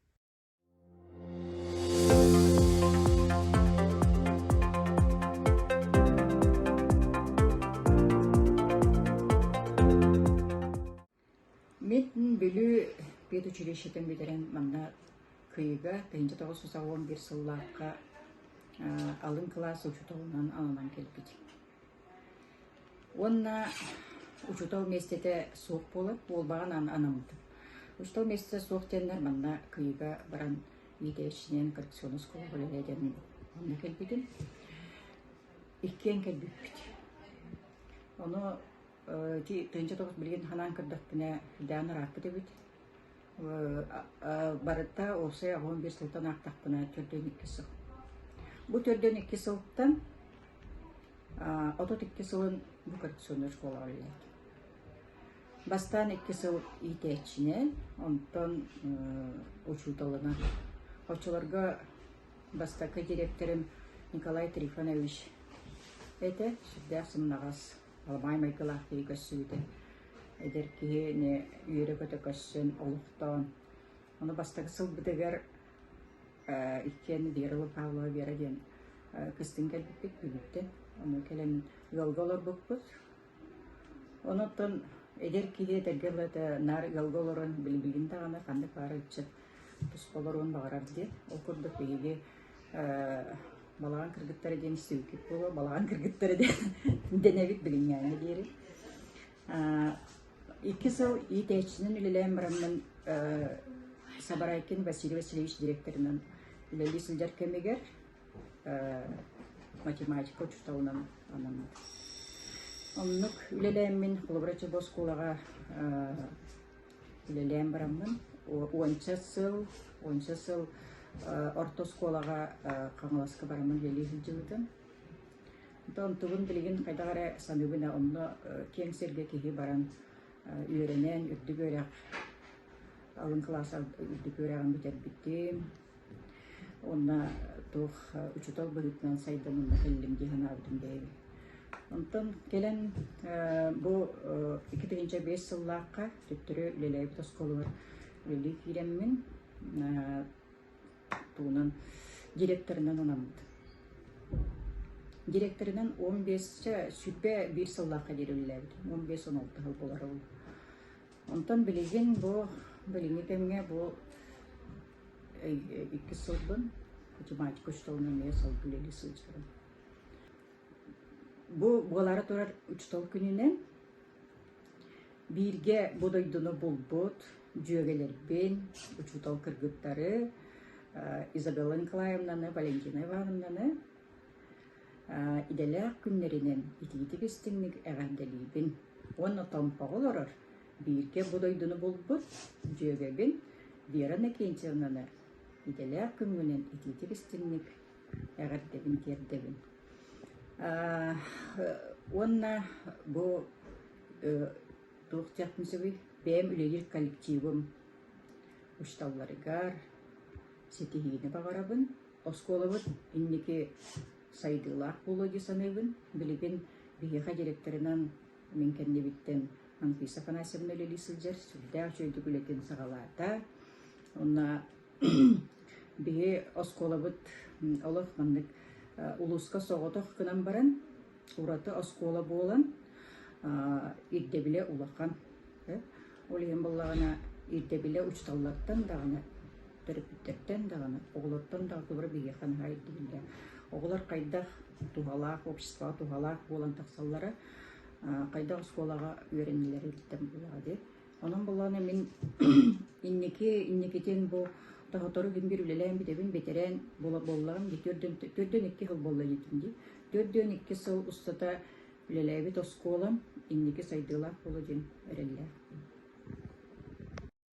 Мин Бүлүү педучилищетын бүтэрэн манна кыйга тыйынча тоҕус саҕуон бир сыллаахха алын кылаас учууталынан алынан кэлбит. Уонна учуутал миэстэтэ суох буолар, буолбаҕын аан анаммытым. Учуутал миэстэтэ суох диэннэр манна кыйыга баран иитээччинэн коррекционнай оскуолаҕа үлэлээн онно кэлбитим. Иккиэн кэлбиппит. Ону ити тыынча тоҕус билигин санаан көрдөхпүнэ, хайдаан ырааппыт эбит. барыта уопсай аҕам биэс сылтан аахтахпына төрдөн икки сыл. Бу төрдөн икки сылтан отут икки сылын бу коррекционный школаҕа үлэлээтим. Бастаан икки сыл иитээччинэн, онтон учууталынан. Оччолорго бастакы директорым Николай Трифонович этэ, сүрдээх сымнаҕас Албаай майгылаах киһи көрсүбүтэ. Эдэр киһи үөрэ-көтө көрсөн, олохтоон. Ону бастакы сылбытыгар иккиэн Вера Лукавлова Вера диэн кыстыҥ кэлбиппит күлүттэ. Ону кэлэн ыалга олорбуппут. Онуттан эдэр киһи этэргэ ылата наар ыалга олорон билбилин даҕаны ханнык баар ыччат туспа олоруон баҕарар диэн. Ол курдук биһиги балаҕан кыргыттара диэн сүҥкүк буолуо балаҕан кыргыттара диэн дэнэбит билиҥҥээҥҥэ диэри икки сыл иитээччинэн үлэлээн бараммын Сабарайкин Василий Васильевич директорынан үлэлии сылдьар кэмигэр математика учууталынан анаммыт. Оннук үлэлээммин холобура оскуолаҕа үлэлээн бараммын уонча сыл уонча сыл орто оскуолаҕа Хаҥаласка бараммын үлэлии сылдьыбытым. Онтубун билигин хайдах эрэ саныыбын онно киэҥ сиргэ киһи баран үөрэнэн үрдүк үөрэх алын кылаас үрдүк үөрэҕин бүтэрбитим Уонна туох учуутал быһыытынан сайданына кэллим дии санаабытым бэйэбин. Онтон кэлэн бу икки тыһыынча биэс сыллаахха төттөрү үлэлээбит оскуолабар үлэлии киирэммин тугунан директорынан анаммыт. Директорынан он биэсчэ сүпэ биир сыллаахха диэри үлэлээбитим. Он биэс он алта сыл буолар ол. Онтон билигин бу билиҥҥи кэмҥэ бу иккис сылбын математика учууталынан эмиэ салгылыы сылдьарым. Бу буолаары турар учуутал күнүнэн бииргэ бу дойдуну булбут дьүөгэлэрбин, учуутал кыргыттары Изабелла Николаевнаны, Валентина Ивановнаны идэлээх күннэринэн итиитик-истиҥник эҕэрдэлиибин уонна томпоҕо олорор бииргэ бу дойдуну булбут дьүөгэбин Вера Накинчевнаны идэлээх күҥҥүнэн итиитик-истиҥник эҕэрдэбин тиэрдэбин. Уонна бу туох диэхпин сөбүй? Бэйэм үлэлиир коллективым учууталларыгар ситиһиини баҕарабын. Оскуолабыт инники сайдыылаах буолуо дии саныыбын. Билигин биһиэхэ директорынан Мин кэннибиттэн Анфиса Афанасьевна үлэлии сылдьар, сүрдээх үчүгэйдик үлэтин саҕалаата. Онно биһи оскуолабыт олох маннык улууска соҕотох гынан баран, ураты оскуола буолан, ирдэбилэ улахан. Ол иһин буоллаҕына ирдэбилэ учууталлартан даҕаны, төрөппүттэртэн даҕаны, оҕолортон даҕаны туора биһиэхэ наһаа ирдииллэр. Оҕолор хайдах туһалаах обществоҕа туһалаах буолан тахсаллара хайдах оскуолаҕа үөрэнэлэр ирдэн буолаҕа дии онон боллооно мин инники инникитин бу сотору күн биир үлэлээн бүтэбин бэтэрээн буоллаҕым дии төрдүөн төрдүөн икки сыл буолла диэтим дии төрдүөн икки сыл устата үлэлээбит оскуолам инники сайдыылаах буола диэн эрэллээх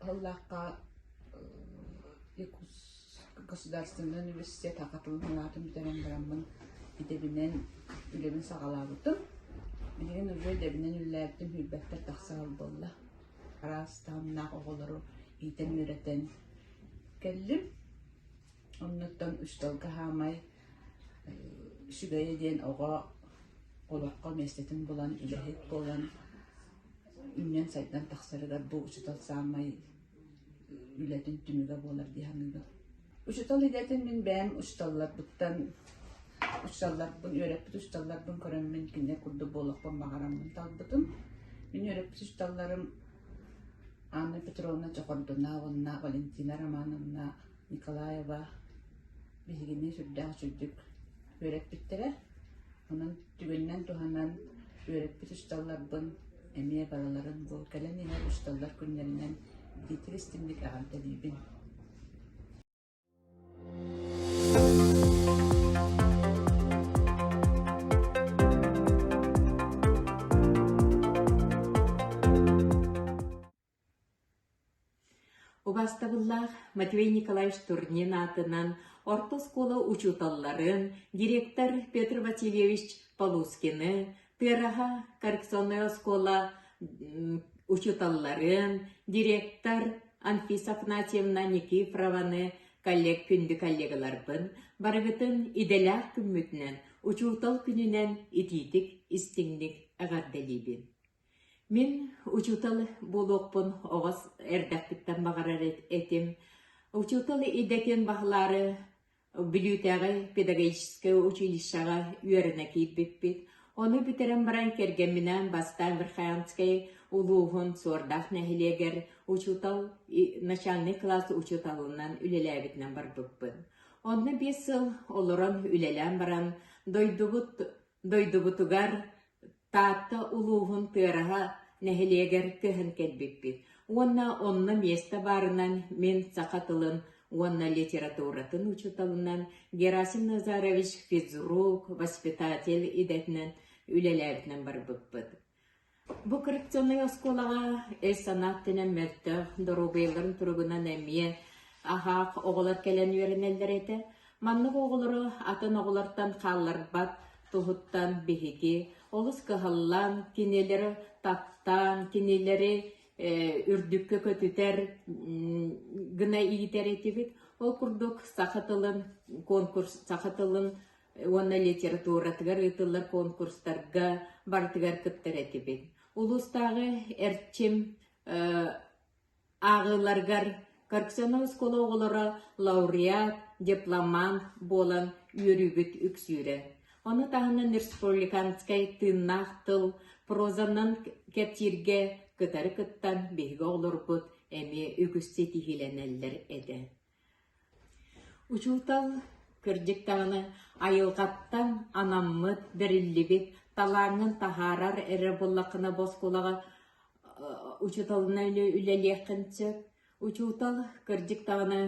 Аһыллахха государственнай университет аҕа тылын санаатын бүтэрэн бараммын идэбинэн үлэбин саҕалаабытым. Билигин уже идэбинэн үлэлээбитим билбэттэр тахса сыл буолла. Араас таһымнаах оҕолору иитэн-үөрэтэн кэллим. Оннуттан үс тылга хаамай үсүгэйэ диэн оҕо олоххо миэстэтин булан үлэһит буолан үүнэн сайдан тахсарыгар бу учуутал саамай үлэтин түмүгэ буолар дии саныыбын. Учуутал идэтин мин бэйэм учууталларбыттан учууталларбын үөрэппит учууталларбын көрөммүн кинилэр курдук буолуохпун баҕараммын талбытым. Мин үөрэппит учууталларым Анна Петровна Чохордуна уонна Валентина Романовна Николаева биһигини сүрдээх чуддук үөрэппиттэрэ. Онон түгэнинэн туһанан үөрэппит учууталларбын эмиэ барыларын бу кэлэн иһэр учууталлар күннэринэн биитик истимник аҕам төлүүбүн. Убаастабыллаах Матвей Николаевич Турнин аатынан орто оскуола учууталларын, директор Петр Васильевич Полускины, Тыараһа коррекционнай оскуола учууталларын, директор Анфиса Афанасьевна Никифорованы коллег күндү коллегаларбын барыгытын идэлээх күммүтүнэн, учуутал күнүнэн итиитик, истиҥник эҕэрдэлиибин. Мин учуутал буолуохпун оҕос эрдэхпиттэн баҕарар этим. Учуутал идэтин баһылаары Бүлүүтээҕи педагогическай училищеҕа үөрэнэ киирбиппит. Ону бүтэрэн баран кэргэмминээн бастаан Верхоянскай улууһун Суордаах нэһилиэгэр учуутал, начальнай кылаас учууталынан үлэлээбитинэн барбыппын. Онно биэс сыл олорон үлэлээн баран, дойдубут Дойдубутугар Таатта улууһун Тыараһа нэһилиэгэр көһөн кэлбиппит уонна онно миэстэ баарынан мин саха тылын уонна литературатын учууталынан Герасим Назарович физрук, воспитатель идэтинэн үлэлээбитинэн барбыппыт Бу коррекционнай оскуолаҕа өй-санаа өттүнэн мөлтөх, доруобуйаларын туругунан эмиэ аһаах оҕолор кэлэн үөрэнэллэр этэ. Маннык оҕолору атын оҕолортон хаалларбат туһуттан биһиги олус кыһаллан, кинилэри таптаан, кинилэри э үрдүккэ көтүтэр гына иитэр этибит. Ол курдук саха тылын конкурс, саха тылын уонна литературатыгар ыытыллар конкурстарга барытыгар кыттар этибин. Улуустааҕы эрчим ааҕыыларгар Корксанов оскуола оҕолоро лауреат, дипломант буолан үөрүүбүт үксүүрэ. Ону таһынан республиканскай тыыннаах тыл прозанан кэпсииргэ кытары кыттан биһиги оҕолорбут эмиэ үгүс ситиһиилэнэллэр этэ. Учуутал, кырдьык даҕаны, айылҕаттан анаммыт, бэриллибит, талааҥҥын таһаарар эрэ буоллаххына босхолоҕо учууталына үлэлиэххин сөп. Учуутал, кырдьык даҕаны,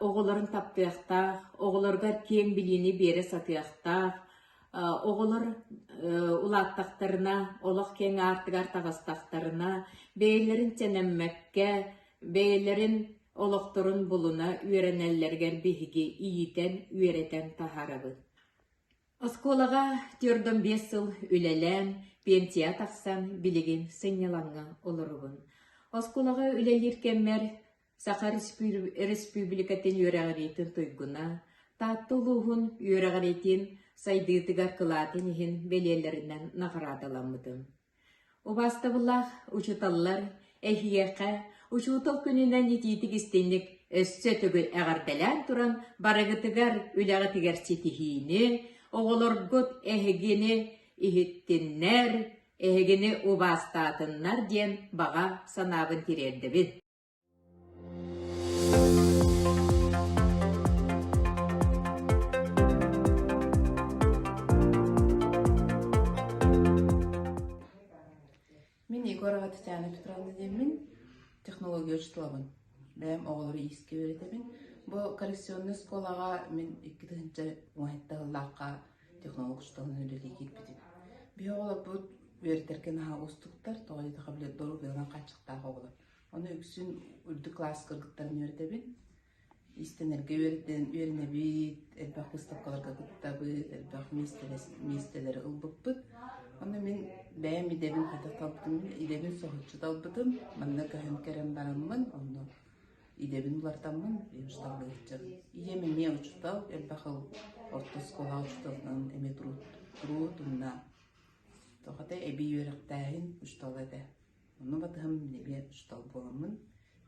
оҕолорун таптыахтаах, оҕолоругар киэҥ билиини биэрэ сатыахтаах, оҕолор улааттахтарына, олох киэҥ аартыгар таҕыстахтарына, бэйэлэрин сэнэммэккэ бэйэлэрин олохторун булуна үөрэнэллэригэр биһиги иитэн, үөрэтэн таһаарабыт. Оскуолаҕа түөрдөн биэс сыл үлэлээн, пенсия тахсан билигин сынньалаҥҥа олоробун. Оскуолаҕа үлэлиир кэммэр Саха Республикатын үөрэҕириитин туйгуна, Таатта улууһун үөрэҕириитин сайдыытыгар кылаатын иһин бэлиэлэринэн наҕараадаламмытым. Убаастабыллаах учууталлар, эһиэхэ Учуутал күнүнэн итиитик истиҥник өссө төгүл эҕэрдэлээн туран барыгытыгар үлэҕитигэр ситиһиини, оҕолоргут эһигини иһиттиннэр, эһигини убаастаатыннар диэн баҕа санаабын тириэрдэбин. Мин Егор Атитянов Петр Владимирович, технология учеталабын. Бэйэм оҕолору иискэ үөрэтэбин. Бу коррекционный оскуолаҕа мин икки тыһынча уһайта ыллаахха технолог учеталын үлэлии киирбитим. Биһи оҕолорбут үөрэтэргэ наһаа уустуктар, тоҕо диэтхэ билэр дорук ыыран хааччыктаах оҕолор. Ону үксүн үрдүк класска кыттарын үөрэтэбин. Иистэнэргэ үөрэнэбит, элбэх выставкаларга кыттабыт, элбэх миэстэлэри ылбыппыт. Ону мин бэйэм идэбин хайдах талбытым, идэбин соһуччу талбытым. Манна көһөн кэлэн бараммын, онно идэбин улартаммын талыы сылдьабын. Ийэм эмиэ учуутал, элбэх хыл орто оскуолаҕа учууталынан эмиэ туруут, туруут уонна тоҕо эбии үөрэхтээһин учуутала этэ. Онно батыһым эмиэ учуутал буоламмын,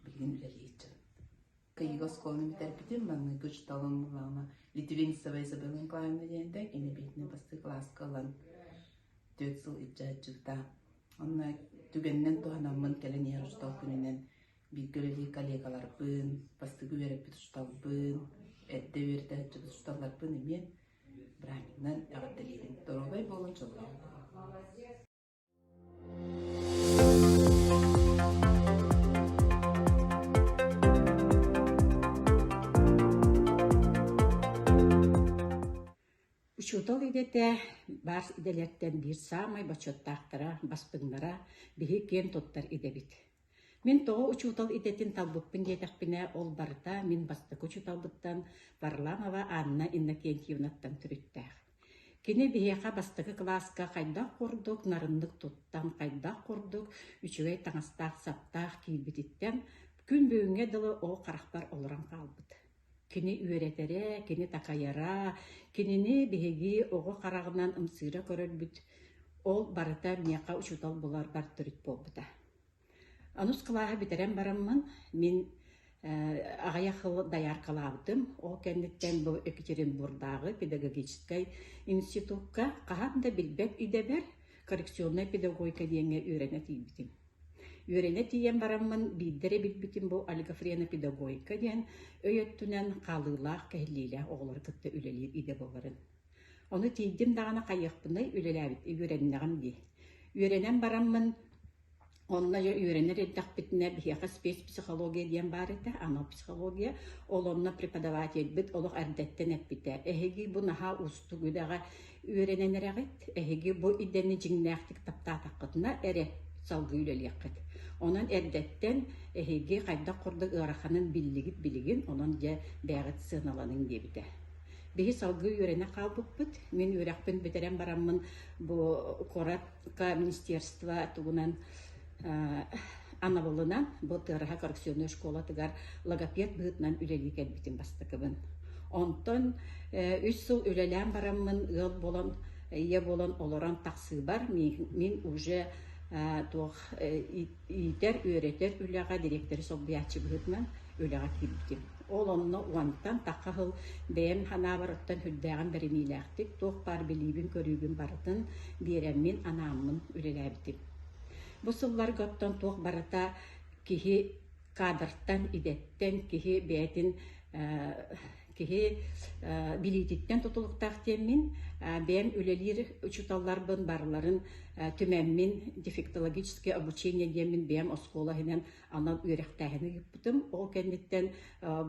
билигин үлэлиир кыйыгы оскуоланы бүтэрбитим. Маҥнайгы учууталым буолаама Литвинцева Изабелла Николаевна диэнтэй, кини биитинэн бастакы кылааска ылан түөрт сыл илдьэ сылдьыбыта. Онно түгэнинэн туһанаммын кэлэн иһэр учуутал күнүнэн бииргэ үлэлиир коллегаларбын, бастакы үөрэппит учууталбын, эрдэ үөрдэ сылдьыбыт учууталларбын эмиэ Браминнан эҕэрдэлиибин. Доруобай буолун, дьоллоох Учуутал идэтэ баар идэлэртэн биир саамай бочуоттаахтара, баспыннара биһи киэн туттар идэбит. Мин тоҕо учуутал идэтин талбыппын диэтэхпинэ, ол барыта мин бастакы учууталбыттан Варламова Анна Иннокентьевнаттан төрүттээх. Кини биһиэхэ бастакы кылааска хайдах курдук нарыннык туттан, хайдах курдук үчүгэй таҥастаах-саптаах киирбититтэн күн бүгүҥҥэ дылы ол харахпар олорон хаалбыт. Кини үөрэтэрэ, кини такайара, кинини биһиги оҕо хараҕынан ымсыыра көрөрбүт, ол барыта миэхэ учуутал буларбар төрүт буолбута Онус кылааһы бүтэрэн бараммын, мин аҕыйах хыл дайааркалаабытым. Ол кэнниттэн бу Екатеринбурдааҕы педагогическай институкка хаһан да билбэт идэбэр коррекционнай педагогика диэҥҥэ үөрэнэ тиийбитим. Үөрэнэ тиийэн бараммын биирдэ эрэ билбитим бу олигофрена педагогика диэн өй өттүнэн хаалыылаах, кэһиллиилээх оҕолору кытта үлэлиир идэ буоларын. Ону тиийдим даҕаны хайыахпынай, үлэлээбит үөрэннэҕим дии. Үөрэнэн бараммын Онно үөрэнэр эрдэхпитинэ биһиэхэ спецпсихология диэн баар этэ, анал психология. Ол онно преподавательбыт олох эрдэттэн эппитэ: «Эһиги бу наһаа уустук үлэҕэ үөрэнэн эрэҕит, эһиги бу идэни дьиҥнээхтик таптаатаххытына эрэ салгыы үлэлиэххит. Онон эрдэттэн эһиги хайдах курдук ыараханын биллигит-билигин, онон дьэ бэйэҕит сыаналаныҥ» диэбитэ. Биһи салгыы үөрэнэ хаалбыппыт. Мин үөрэхпин бүтэрэн бараммын бу куорат министерство тугунан анабылынан бу тыараһа коррекционный школатыгар логопед быһытынан үлэлии кэлбитим бастакыбын онтон үс сыл үлэлээн бараммын ыал болон ийэ болон олорон тахсыыбар мен уже туох Иитэр-үөрэтэр үлэҕэ дириэктэри солбуйааччыбыһытынан үлэҕэ киирбитим. Ол онно уонтан тахха сыл бэйэм санаабар оттон үрдээҕин бэриниилээхтик, туох баар билиибин-көрүүбүн барытын биэрэммин, анааммын үлэлээбитим. Бу сылларга оттон туох барыта киһи кадртан, идэттэн, киһи бэйэтин киһи билиититтэн тутулуктаах диэммин, бэйэм үлэлиир учууталларбын барларын түмэммин дефектологическое обучение диэммин бэйэм оскуола иһинэн анал үөрэхтээһин ыыппытым. Ол кэнниттэн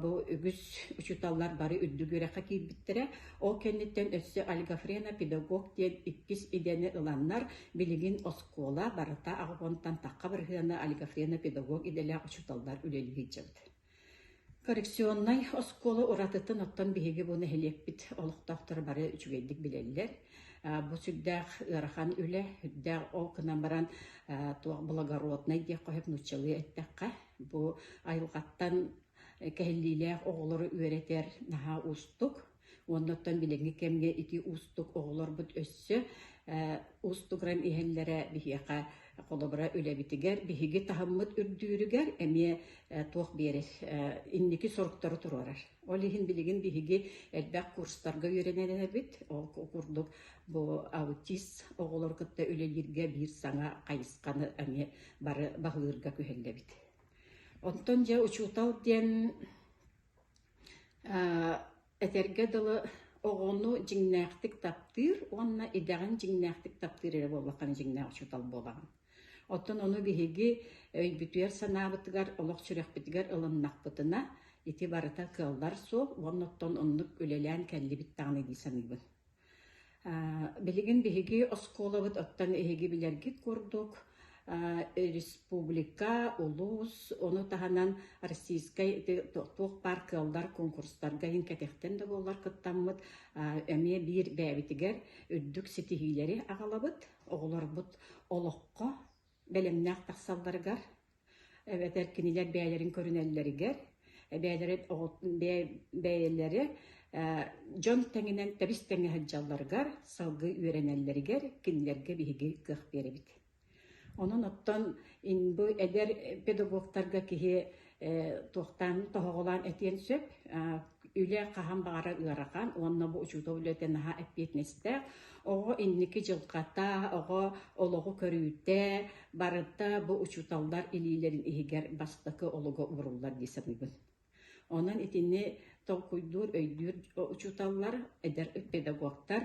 бу үгүс учууталлар бары үрдүк үөрэххэ киирбиттэрэ. Ол кэнниттэн өссө Альгафрена педагог диэн иккис идэни ыланнар билигин оскуола барыта аҕабонтан тахха барыһыана Альгафрена педагог идэлээх учууталлар үлэлии сылдьабыт. Коррекционнай оскуола уратытын оттон биһиги бу нэһилиэкпит олохтоохторо бары үчүгэйдик билэллэр. Э, бу сүрдээх ыарахан үлэ, сүрдээх ол гынан баран э, туох благороднай диэххэ нууччалыы эттэххэ, бу айылҕаттан кэһиллиилээх оҕолору үөрэтэр наһаа уустук. Оннуттан билиҥҥи кэмҥэ ити уустук оҕолорбут өссө уустугуран иһэллэрэ биһиэхэ холобура үлэбитигэр биһиги таһыммыт үрдүүрүгэр эмиэ туох биэрэр инники соруктары туруорар. Ол иһин билигин биһиги элбэх курстарга үөрэнэр эбит. Ол курдук бу аутист оҕолору кытта үлэлииргэ биир саҥа хайысханы эмиэ бары баһылыырга күһэллэбит. Онтон дьэ учуутал диэн Этэргэ дылы, оҕону дьиҥнээхтик таптыыр уонна идэҕин дьиҥнээхтик таптыыр эрэ буоллаххына дьиҥнээх учуутал буолаҕын. Оттон ону биһиги өйбүтүгэр, санаабытыгар, олох сүрэхпитигэр ылыннахпытына, ити барыта кыаллар суол уонна оттон оннук үлэлээн кэллибит даҕаны дии саныыбын. Билигин биһиги оскуолабыт оттон эһиги билэргит курдук республика, улуус, ону таһынан российскай ити туох баар кыаллар куонкурстарга иһин кэтиэхтэн да буоллар кыттаммыт эмиэ биир бэйэбитигэр үрдүк ситиһиилэри аҕалабыт, оҕолорбут олоххо бэлэмнээх тахсалларыгар, эбэтэр кинилэр бэйэлэрин көрүнэллэригэр, бэйэлэрэ бэйэлэрэ дьон тэҥинэн тэбис тэҥҥэ сылдьалларыгар, салгыы үөрэнэллэригэр кинилэргэ биһиги кыах биэрэбит. Онон оттон бу эдэр педагогтарга киһи туохтаан тоһоҕолоон этиэн сөп. Үлэ хаһан баҕара ыарахан уонна бу учуутал үлэтэ наһаа эппиэтинэстээх. Оҕо инники дьылҕата, оҕо олоҕу көрүүтэ, барыта бу учууталлар илиилэрин иһигэр бастакы олуга ууруллар дии саныыбын. Онон итини толкуйдуур, өйдүүр учууталлар, эдэр педагогтар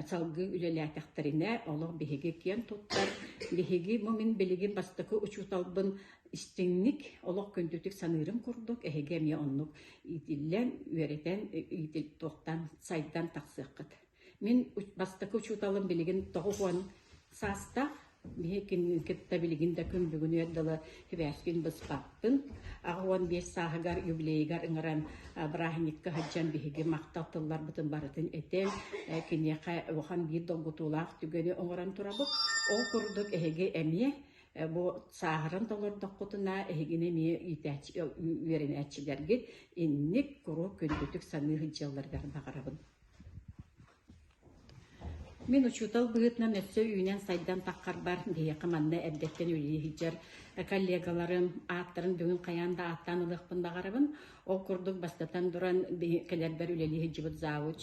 салгыы үлэлээтэхтэринэ олох биһиги киэн туттар, биһиги бу мин билигин бастакы учууталбын истиҥник, олох күндүтүк саныырым курдук, эһиги эмиэ оннук иитиллэн, үөрэтэн, туохтан сайдан тахсыаххыт. Мин бастакы учууталым билигин тоҕус уон саастаах, биһикини кытта билигин да күндүгүнүөр дылы сибээскин быспаппын. Аҕа уон биэс сааһыгар юбилейыгар ыҥыран бырааһынньыкка сылдьан биһиги махтал тылларбытын барытын этэн, киниэхэ улахан биир долгутуулаах түгэни оҥорон турабыт. Ол курдук эһиги эмиэ Бу сааһыран толордоххутуна эһигини эмиэ иитээччи үөрэнээччилэргит инник куруук күндүтүк саныы сылдьалларыгар баҕарабын. Мин учуутал быһыытынан өссө үүнэн-сайдан таххарбар биһиэхэ манна эрдэттэн үлэлии сылдьар коллегаларым ааттарын бүгүн хайаан да ааттаан ылыахпын баҕарабын. Ол курдук бастатан туран кэлэрбэр үлэлии сылдьыбыт завуч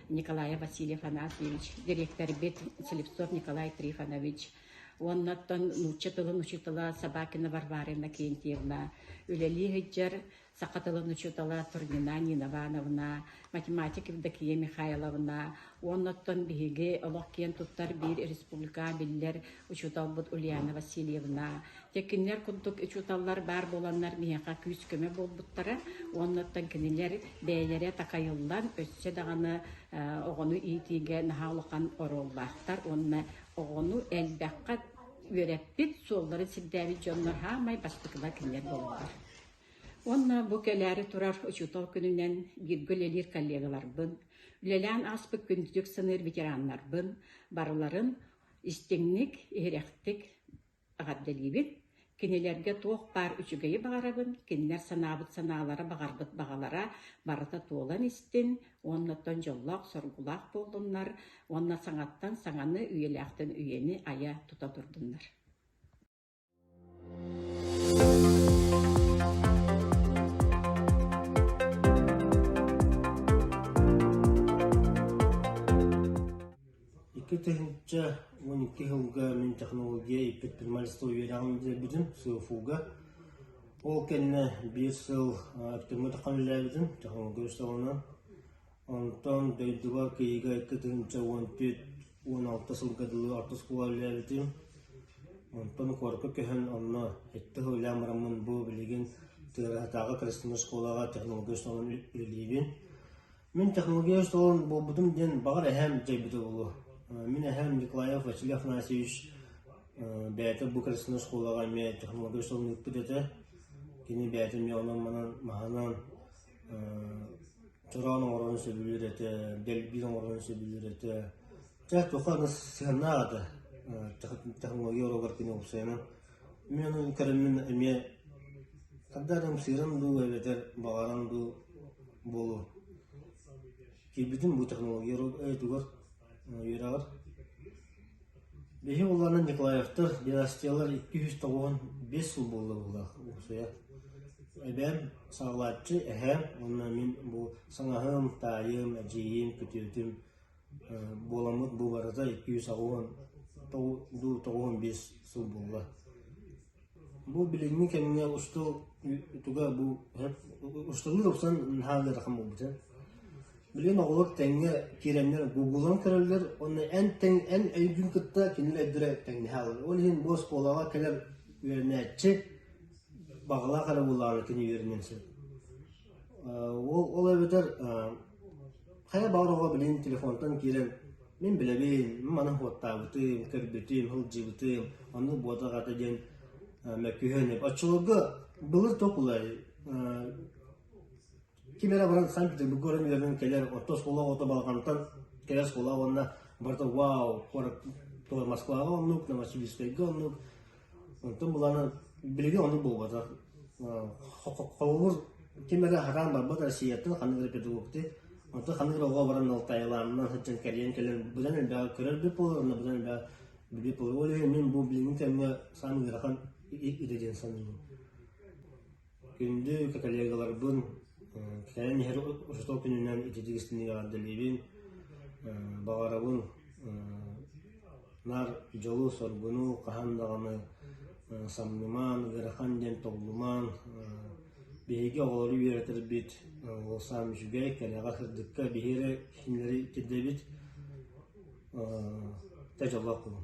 Николай Васильев Анасьевич, дириэктэрбит Слепцов Николай Трифонович Уоннаттан нуучча тылын учуутала Собакина Варвара Иннокентьевна, үлэлии сылдьар саха тылын учуутала Турнина Ниновановна, математик Евдокия Михайловна, уоннаттан биһиги олох киэн туттар биир республика биллэр учууталбыт Ульяна Васильевна. Дьэ кинилэр курдук учууталлар баар буоланнар миэхэ күүс-көмө буолбуттара уоннаттан кинилэр бэйэлэрэ такайыллан өссө даҕаны оҕону иитиигэ наһаа улахан оруоллаахтар уонна Оҕону элбэххэ үөрэппит, суолларын сирдээбит дьоннор саамай бастакыба кинилэр буолаллар. Уонна бу кэлээри турар учуутал күнүнэн бииргэ үлэлиир коллегаларбын, үлэлээн ааспыт күндүтүк саныыр ветераннарбын барыларын истиҥник, иһирэхтик Эҕэрдэлиибит! Кинилэргэ туох баар үчүгэйи баҕарабын, кинилэр санаабыт санаалара, баҕарбыт баҕалара барыта туолан истин уоннаттан дьоллоох-соргулаах буоллуннар уонна саҥаттан саҥаны, үйэлээхтэн үйэни айа тута турдуннар! Икки тыһыынча уон икки сылга мин технология предпринимательство үөрэҕин бүтэрбитим СУФУ-га. Ол кэннэ биир сыл Өктөмҥө тахсан үлэлээбитим технология үөрэҕинэн. Онтон дойдуга кыйыга икки тыһыынча уон түөрт уон алта сылга дылы орто оскуола үлэлээбитим. Онтон куоракка көһөн онно сэттэ сыл үлээн бараммын бу билигин Тыараһатааҕы коррективнай оскуолаҕа технология үөрэҕинэн үлэлиибин. Мин технологиоз талан буолбутум диэн баҕар эһээм дьайбыта буолуо. Мин эһээм Николаев Василий Афанасьевич бэйэтэ бу кырасынай оскуолаҕа эмиэ технологиоз талан ыыппыт этэ. Кини бэйэтэ эмиэ онон-манан маһынан чороон оҥорорун сөбүлүүр этэ, дэлбиир оҥорорун сөбүлүүр этэ. Дьэ туохха сыһыаннаах этэ технология оруогар кини уопсайынан Миэнэ кэлимин эмиэ харда эрэ ымсыыран дуу эбэтэр баҕаран дуу буолуо. Киирбитим бу технология өйүтүгэр, үөрэҕэр. Биһи улаана Николаевтар династиялар икки үс тоҕуон биэс сыл буолларылаах уопсайа. Эбээм саҕалааччы, эһээм уонна мин бу саҥаһым, таайым, эдьиийим, күтүөтүм Буоламмыт бу барыта икки сүүс аҕыһын дуу тоҕуһун биэс сыл буолла. Бу билиҥҥи кэмҥэ устал туга бу усталыы ылсан наһаа ыарахан буолбута. Билигин оҕолор тэҥҥэ киирэннэр гуглан көрөллөр уонна эн тэҥ эн өйгүн кытта кинилэр өйдөрө тэҥнэһэ алар. Ол иһин бу оскуолаҕа кэлэр үөрэнээччи баҕалаах эрэ буоллаҕына кини үөрэниэн сөп. Ол ол эбэтэр Хайа баар оҕо билигин телефонтан киирэн «Мин билэбин, мин маны уоттаабытым, көрбүтүм, сылдьыбытым, оннук буолуо аҕата» диэн мөккүһэн оччолорго былыр тоқ улай ким эрэ баран Санкт-Петербурга баран үөрэнэн кэлэр оттон суола оҕото балҕантан кэлэр суола уонна барыта «Вау!» куорат Москваҕа оннук, Новосибирскайга оннук Онтон буланан билиги ону булбатар. Холобур, ким эрэ аһараан барбыт Россияттан ханнык эрэ педагогты, онтон ханнык эрэ оҕо баран алтайалаанынан сылдьан кэрийэн кэлэн быдан элбэҕи көрөр бүп буолар, онно быдан элбэҕи билбит буолар. Ол иһин мин бу билиҥҥи кэмҥэ саам ыарахан идэ диэн саныыбын. Күндү коллегаларбын кэлэн иһэр учуутал күнүнэн ититик истиҥник эҕэрдэлиибин, баҕарабын наар дьолу, соргуну, хаһан даҕаны самнымаан, ыарахан диэн тоҕулумаан биһиги оҕолору үөрэтэрбит олохсуйан үчүгэй, кэрэҕэ, сырдыкка биһи эрэ кинилэри итирдэбит дьоллоох буолуҥ.